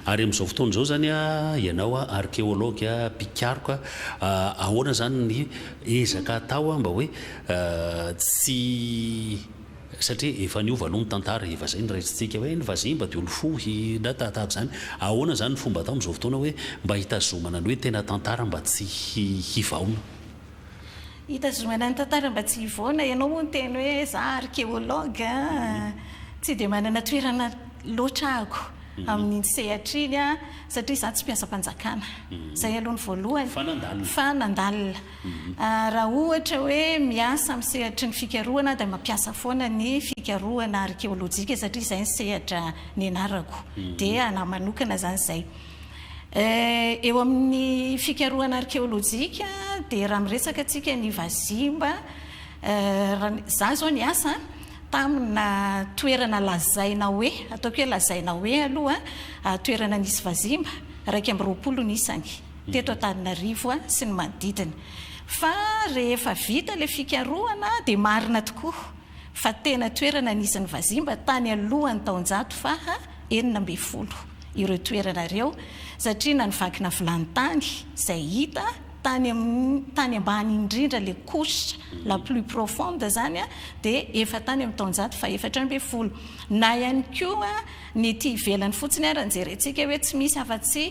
Ary amin'izao fotoana izao izany a, ianao a arkeology a, mpikaroka a, ahoana izany ny ezaka atao a mba hoe tsy Satria efa niova aloha ny tantara, efa izay no raisintsika hoe ny vazimba dia nifoha na tahaka izany. Ahoana izany ny fomba atao amin'izao fotoana hoe mba hitazomana ny hoe tena tantara mba tsy hivaona? Hitazomana ny tantara mba tsy hivaona, ianao moa miteny hoe izaho archéologue, tsy dia manana toerana loatra aho amin'iny sehatra iny aho satria izaho tsy mpiasam-panjakana. Izay aloha ny voalohany fa nandalina. Raha ohatra hoe miasa amin'ny sehatry ny fikarohana aho dia mampiasa foana ny fikarohana arkeolojika satria izay ny sehatra nianarako. Dia anah manokana izany izay. Eo amin'ny fikarohana arkeolojika dia raha miresaka tsika ny vazimba, izaho izao niasa tamina toerana lazaina hoe, ataoko hoe lazaina hoe aloha, toerana nisy vazimba, iraika amby roapolo ny isany. teto Antananarivo sy ny manodidina fa rehefa vita ilay fikarohana dia marina tokoa fa tena toerana nisy ny vazimba tany alohan'ny taonjato faha enina ambin'ny folo ireo toerana ireo satria na ny vakina vilany tany izay hita tany amin'ny tany ambany indrindra ilay couche la plus profonde izany dia efa tany amin'ny taonjato faha efatra ambin'ny folo na ihany koa ny ety ivelany fotsiny ary ny jerentsika hoe tsy misy afa-tsy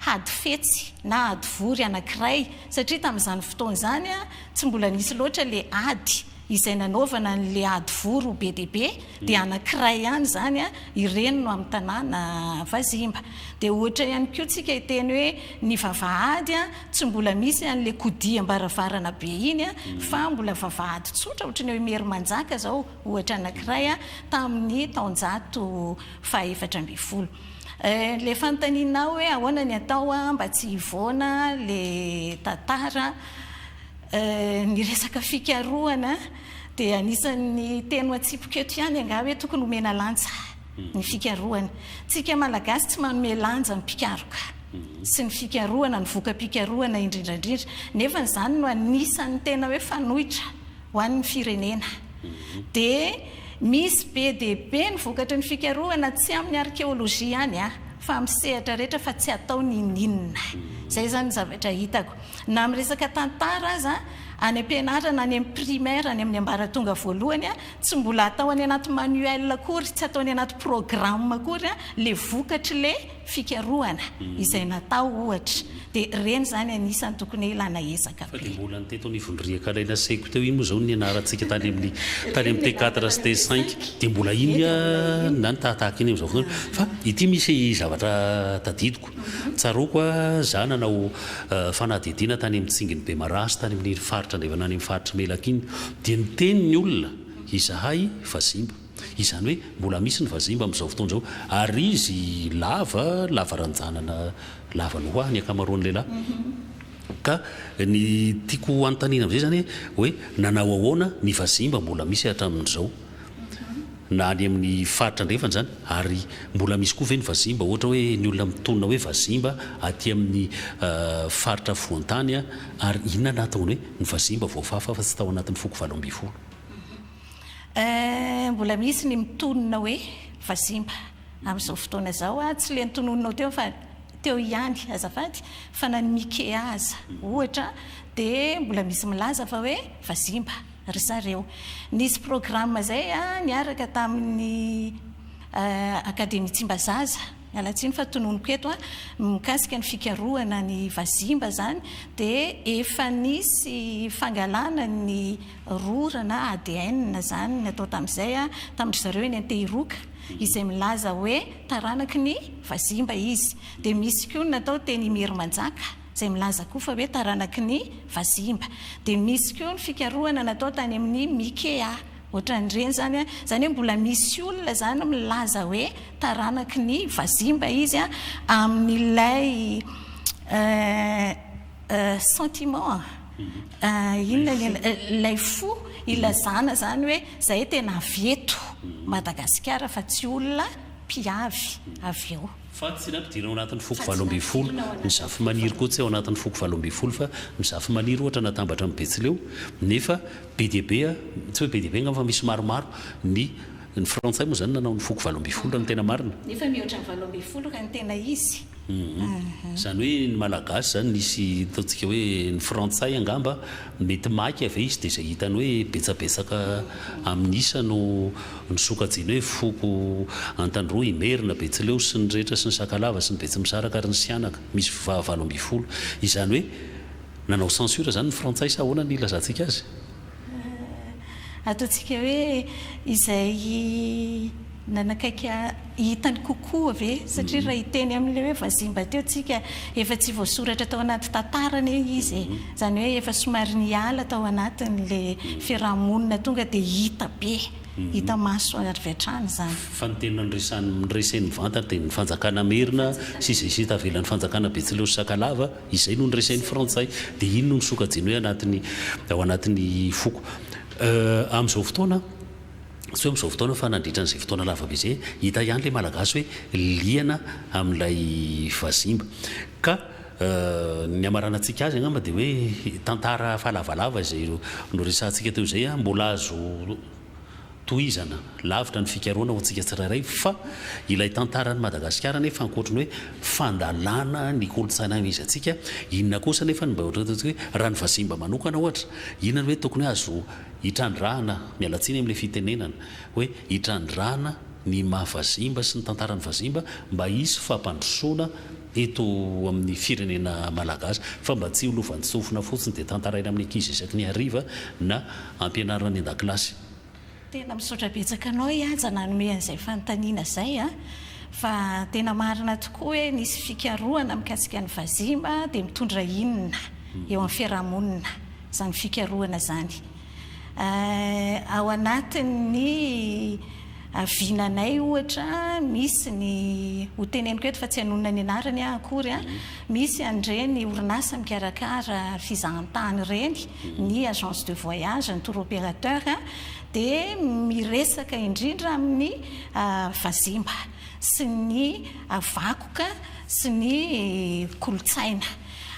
hady fetsy na hady vory anankiray, satria tamin'izany fotoana izany tsy mbola nisy loatra ilay ady izay nanaovana an'ilay ady vory ho be dia be, dia anankiray ihany izany, ireny no amin'ny tanàna Vazimba. Dia ohatra ihany koa tsika hiteny hoe ny vavahady tsy mbola misy an'ilay kodiam-baravarana be iny fa mbola vavahady tsotra ohatry ny ao Imerimanjaka izao ohatra anankiray tamin'ny taonjato fahaefatra ambin'ny folo. Le fanontanianao hoe ahoana ny atao mba tsy hivoana le tantara, ny resaka fikarohana dia anisan'ny teny atsipiko eto ihany angaha hoe tokony omena lanja ny fikarohana. Tsika Malagasy tsy manome lanja ny mpikaroka sy ny fikarohana, ny voka-pikarohana indrindraindrindra, nefa izany no anisan'ny tena hoe fanoitra. ho an'ny firenena. Dia misy be dia be ny vokatry ny fikarohana tsy amin'ny arkeolojia ihany an, fa amin'ny sehatra rehetra fa tsy atao ninoninona. Izay izany ny zavatra hitako. Na amin'ny resaka tantara aza, any am-pianarana, any amin'ny primaire, any amin'ny ambaratonga voalohany an, tsy mbola atao any anaty manuel akory, tsy atao any anaty programme akory an, ilay vokatr'ilay. fikarohana izay natao ohatra dia ireny izany anisany tokony hilana ezaka be. Fa dia mbola ny teto anivon'ny riaka ilay nasehiko teo iny moa izao no nianarantsika tany amin'ny tany amin'ny T4 sy T5 dia mbola iny na ny tahatahaka iny amin'izao fotoana fa ity misy zavatra tadidiko tsaroako a za nanao fanadihadiana tany amin'ny tsingin'i Bemaraha tany amin'ny faritra andrefana any amin'ny faritr'i Melaky iny dia niteny ny olona izahay vazimba Izany hoe mbola misy ny vazimba amin'izao fotoana izao. Ary izy lava, lava ranjanana, lava noix ny ankamaroan'ny lehilahy. Ka ny tiako hanontaniana amin'izay izany hoe nanao ahoana ny vazimba mbola misy hatramin'izao, na any amin'ny faritra andrefana izany? Ary mbola misy koa ve ny vazimba ohatra hoe ny olona mitonona hoe vazimba aty amin'ny faritra afovoan-tany? Ary inona no nahatonga ny hoe ny vazimba voafafa fa tsy tao anatin'ny foko valo ambin'ny folo? Eh, mbola misy ny mitonona hoe vazimba amin'izao fotoana izao a, tsy le notononinao teo fa teo ihany azafady fa na ny Mikea aza ohatra dia mbola misy milaza fa hoe vazimba ry zareo. Nisy programme izay a niaraka tamin'ny eh, Akademia Tsimbazaza, miala tsiny fa tononiko eto a, mikasika ny fikarohana ny vazimba izany dia efa nisy fangalana ny roa ora na ADN izany ny atao tamin'izay tamin-dry zareo eny Antehiroka, izay milaza hoe taranaky ny vazimba izy. Dia misy koa ny natao teny Imerimanjaka, izay milaza koa fa hoe taranaky ny vazimba. Dia misy koa ny fikarohana natao tany amin'ny Mikea, ohatran'ireny izany. Izany hoe mbola misy olona izany milaza hoe taranaky ny vazimba izy amin'ilay sentiment. Inona ny anarana, ilay fo ilazana izany hoe izahay tena avy eto Madagasikara fa tsy olona mpiavy avy eo. Fa tsy raha ampidirina ao anatin'ny foko valo ambin'ny folo ny zafimaniry koa tsy ao anatin'ny foko valo ambin'ny folo fa ny zafimaniry ohatra natambatra amin'ny betsileo nefa be dia be, tsy hoe be dia be angamba fa misy maromaro ny ny frantsay moa izany nanao ny foko valo ambin'ny folo raha ny tena marina. Nefa mihoatra ny valo ambin'ny folo raha ny tena izy. Izany hoe ny Malagasy izany misy ataontsika hoe ny Frantsay angamba mety maika ve izy dia izay hitany hoe betsabetsaka amin'ny isa no no sokajiany hoe foko Antandroy, Imerina, Betsileo sy ny rehetra sy ny Sakalava sy ny Betsimisaraka ary ny Sihanaka misy va- valo ambin'ny folo. Izany hoe nanao censure izany ny Frantsay sa ahoana ny ilazantsika azy? Ataontsika hoe izay nanakaiky hitany kokoa ve? Satria raha hiteny amin'ilay hoe vazimba teo tsika, efa tsy voasoratra tao anaty tantara anie izy e! Izany hoe efa somary niala tao anatin'ilay fiaraha-monina tonga dia hita be, hita maso avy hatrany izany. Fa ny tena niresahan'ny niresahin'ny vantany dia ny fanjakana merina sy izay sita avelan'ny fanjakana betsileo sy sakalava. Izay no niresahin'ny Frantsay. Dia iny no nisokajiany hoe anatin'ny, ao anatin'ny foko. Euh, amin'izao fotoana, tsy hoe amin'izao fotoana fa nandritra an'izay fotoana lava be izay, hita ihany ilay Malagasy hoe liana amin'ilay vazimba. Ka euh, ny hamaranantsika azy angamba dia hoe tantara efa lavalava izay noresahantsika teo izay, mbola azo, Tohizana, lavitra ny fikarohana ho antsika tsirairay fa ilay tantaran'i Madagasikara anefa ankoatry ny hoe fandalana ny kolontsaina izy antsika, inona kosa anefa ny mba ohatran'ny ataontsika hoe raha ny vazimba manokana ohatra, inona no hoe tokony hoe azo hitrandrahana, miala tsiny amin'ilay fitenenana hoe hitrandrahana ny maha vazimba sy ny tantaran'ny vazimba mba hisy fampandrosoana eto amin'ny firenena malagasy fa mba tsy ho lovantsofina fotsiny dia tantaraina amin'ny ankizy isaky ny hariva na ampianarina any an-dakilasy. Tena misaotra betsaka anao Ihanja nanome an'izay fanontaniana izay a! Fa tena marina tokoa hoe nisy fikarohana mikasika ny vazimba dia mitondra inona eo amin'ny fiarahamonina izany fikarohana izany. Ao anatin'ny vinanay ohatra misy ny, hoteneniko eto fa tsy hanonona ny anarany aho akory a, misy an'ireny orinasa mikarakara fizahantany ireny, ny agence de voyage, ny tour opérateur dia miresaka indrindra amin'ny vazimba sy ny vakoka sy ny kolontsaina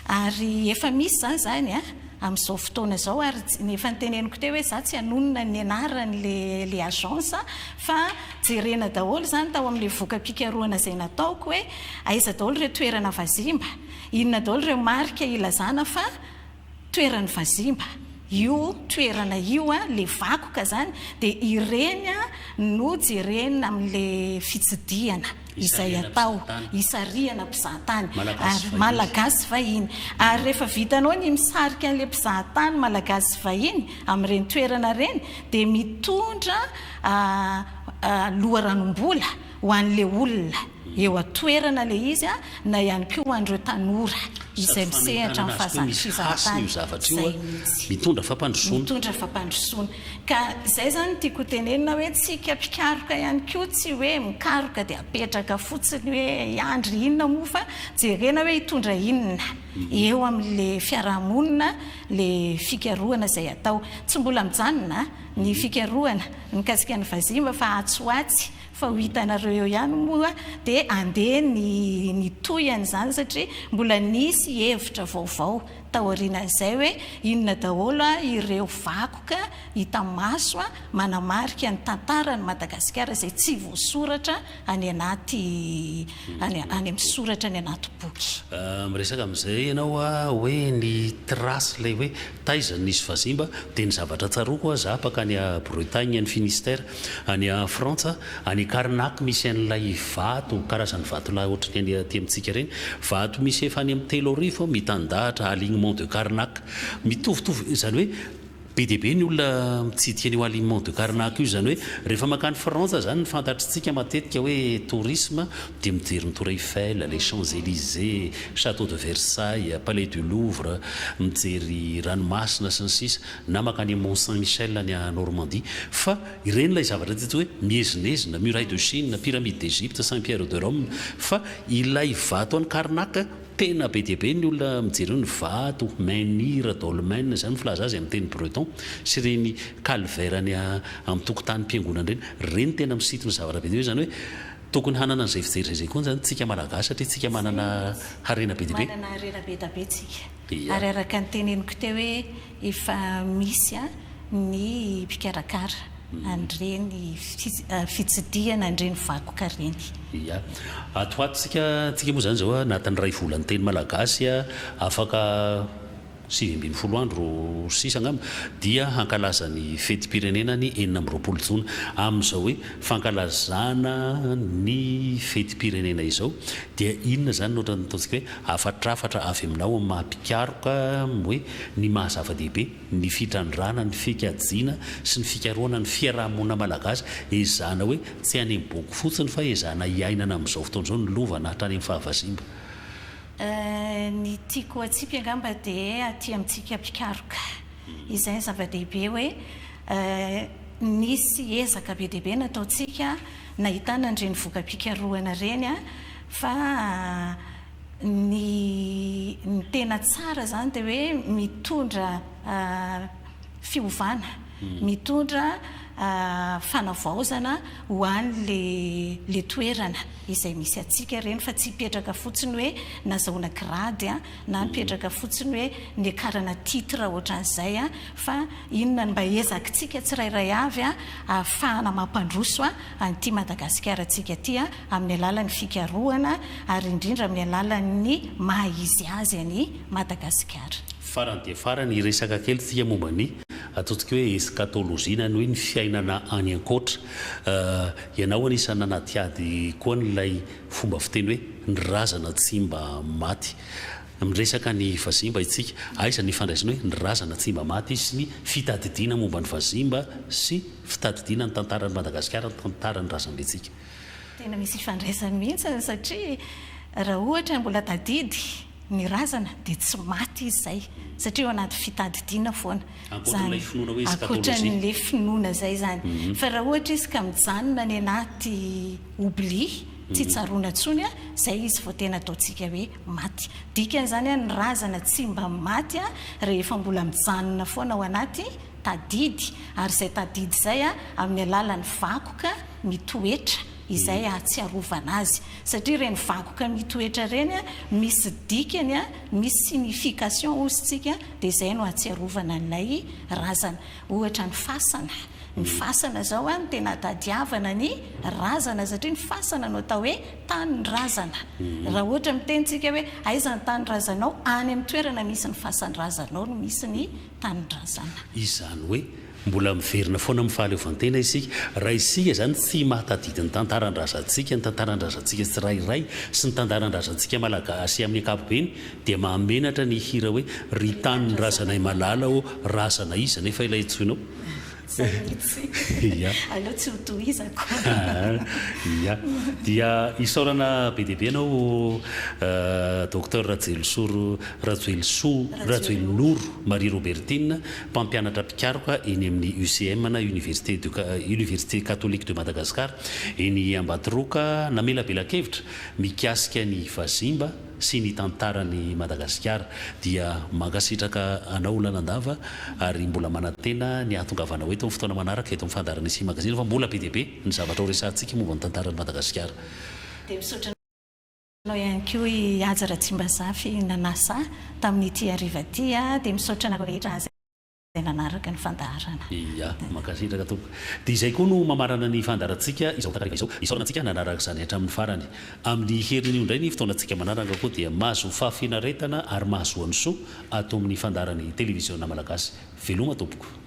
ary efa misy izany izany amin'izao fotoana izao ary ny efa noteneniko teo hoe za tsy hanonona ny anaran'ilay agence fa jerena daholo izany tao amin'ilay voka-pikarohana izay nataoko hoe aiza daholo ireo toerana vazimba, inona daholo ireo marika ilazana fa toeran'ny vazimba io toerana io a, le vakoka zany de ireny a no jerena amle fitsidihana izay atao, hisarihana mpizahatany ary malagasy vahiny ary rehefa vitanao ny misarika anle mpizahatany malagasy vahiny amin'ireny toerana ireny de mitondra loharanom-bola Ho an'ilay olona eo an-toerana ilay izy na ihany koa ho an'ireo tanora izay misehatra amin'ny fahazanan-trizara-tany izay mihitsy. Mitondra fampandrosoana. Mitondra fampandrosoana. Ka izay izany no tiako hotenenina hoe tsika mpikaroka ihany koa tsy hoe mikaroka dia apetraka fotsiny hoe hiandry inona moa fa jerena hoe hitondra inona eo amin'ilay fiarahamonina ilay fikarohana izay atao. Tsy mbola mijanona ny fikarohana mikasika ny vazimba fa atsy ho atsy Fa ho hitanareo eo ihany moa dia andeha ny ny tohiny izany satria mbola nisy hevitra vaovao taorianan'izay hoe inona daholo ireo vakoka hita maso manamarika ny tantaran'i Madagasikara izay tsy voasoratra any anaty any any amin'ny soratra any anaty boky. Miresaka amin'izay ianao hoe ny trace ilay hoe taiza no nisy vazimba dia ny zavatra tsaroako aho, izaho mpankany Bretagne any Finistère Any Frantsa, any Karnak misy an'ilay vato, karazan'ny vatolahy ohatran'ny any aty amintsika ireny. Vato misy efa any amin'ny telo arivo mitandahatra, alignement de Karnak. Mitovitovy, izany hoe be dia be ny olona mitsidika an'io alignement de Karnak io, izany hoe rehefa mankany Frantsa izany ny fantatr'tsika matetika hoe tourisme dia mijery ny Tour Eiffel, les Champs Elysées, Chateau de Versailles, Palais du Louvre, mijery ranomasina sy ny sisa. na mankany amin'ny Mont Saint Michel any Normandie, fa ireny ilay zavatra teto hoe miezinezina, Muraille de Chine, Pyramide d'Egypte, Saint Pierre de Rome, fa ilay vato any Karnak, tena be dia be ny olona mijery eo, ny vato, menhir, dolmen, izany ny filaza azy amin'ny teny breton, sy ireny calvaire any amin'ny tokotanim-piangonana ireny, ireny tena misintona zavatra be dia be, izany hoe tokony hanana an'izay fijery izay koa izany tsika Malagasy satria tsika manana harena be dia be. Ary araka ny teneniko teo hoe efa misy ny mpikarakara an'ireny fitsidihana an'ireny vakoka ireny. Ia. Ato ho atontsika, antsika moa izany izao anatin'ny iray volan'ny teny malagasy afaka sivy ambin'ny folo andro sisa angamba dia hankalaza ny fetim-pirenena ny enina amby roapolo jona. Amin'izao hoe fankalazana ny fetim-pirenena izao dia inona izany no ohatran'ny ataontsika hoe Hafatrafatra avy aminao amin'ny maha mpikaroka hoe ny maha zava-dehibe ny fitrandrahana ny fikajiana sy ny fikarohana ny fiaraha-monina malagasy, ezahana hoe tsy any amin'ny boky fotsiny fa ezahana iainana amin'izao fotoana izao ny lova na hatrany amin'ny fahavazimba. Ny tiako hatsipy angamba dia aty amintsika mpikaroka izay ny zava-dehibe hoe nisy ezaka be dia be nataontsika nahitana an'ireny voka-pikarohana ireny. Fa ny ny tena tsara izany dia hoe mitondra fiovana, mitondra fanavaozana ho an'ilay ilay toerana izay misy antsika ireny fa tsy hipetraka fotsiny hoe nazahoana grady na mipetraka fotsiny hoe niakarana titre ohatran'izay fa inona no mba ezakitsika tsirairay avy ahafahana mampandroso an'ity Madagasikara antsika ity amin'ny alalan'ny fikarohana ary indrindra amin'ny alalan'ny maha izy azy an'i Madagasikara. Farany dia farany, hiresaka kely tsika momba ny ataontsika hoe eskatôlôjia na ny hoe ny fiainana any an-koatra. Ianao anisan'ny nanadihady koa an'ilay fomba fiteny hoe ny razana tsy mba maty. Miresaka ny vazimba isika, aiza ny ifandraisany hoe ny razana tsy mba maty sy ny fitadidiana momba ny vazimba sy fitadidiana ny tantaran'i Madagasikara, ny tantaran'ny razambentsika? Tena misy ifandraisany mihitsy satria raha ohatra mbola tadidy ny razana dia tsy maty izy izay satria ao anaty fitadidiana foana izany, ankoatran'ilay finoana izay izany fa raha ohatra izy ka mijanona any anaty oubli, tsy tsaroana intsony an, izay izy vao tena ataontsika hoe maty. Dikan'izany an ny razana tsy mba maty rehefa mbola mijanona foana ao anaty tadidy ary izay tadidy izay amin'ny alalan'ny vakoka, ny toetra izay ahatsiarovana azy satria ireny vakoka mitoetra ireny misy dikany misy signification hozy tsika dia izay no ahatsiarovana an'ilay razana ohatra ny fasana ny fasana izao a ny tena atadiavana ny razana satria ny fasana no atao hoe tany ny razana raha ohatra miteny tsika hoe aiza ny tany razanao any amin'ny toerana misy ny fasan-drazanao no misy ny tany razana izany hoe Mbola miverina foana amin'ny fahaleovantena isika. Raha isika izany tsy mahatadidy ny tantaran-drazantsika, ny tantaran-drazantsika tsirairay sy ny tantaran-drazantsika Malagasy amin'ny ankapobeny dia mahamenatra ny hihira hoe Ry tanindrazanay malala ô, razana iza anefa ilay antsoinao? Sahidy tsy. Ia. Aleo tsy ho tohizako. Ia. Dia isaorana be dia be anao Docteur Rajoelisoro Rajoelisoa Rajoelinoro Marie Robertine. mpampianatra mpikaroka eny amin'ny UCM na Université de Université Catholique de Madagascar eny Ambatoroka namelabela-kevitra mikasika ny vazimba sy ny tantaran'i Madagasikara dia mankasitraka anao Lalandava ary mbola manantena ny hahatongavanao eto amin'ny fotoana manaraka eto amin'ny fandaharana Isia Magazine fa mbola be dia be ny zavatra horesahantsika momba ny tantaran'i Madagasikara. Manao ihany koa i Haja Ratsimbazafy nanasa ahy tamin'ity hariva ity dia misaotra anareo rehetra izay nanaraka ny fandaharana. Ia, mankasitraka tompoko. Dia izay koa no mamarana ny fandaharantsika izao takariva izao. Isaorana antsika nanaraka izany hatramin'ny farany. Amin'ny herin'io indray ny fotoanantsika manaraka koa dia mahazo fahafinaretana ary mahazoa ny soa ato amin'ny fandaharan'ny Televiziona Malagasy. Veloma tompoko.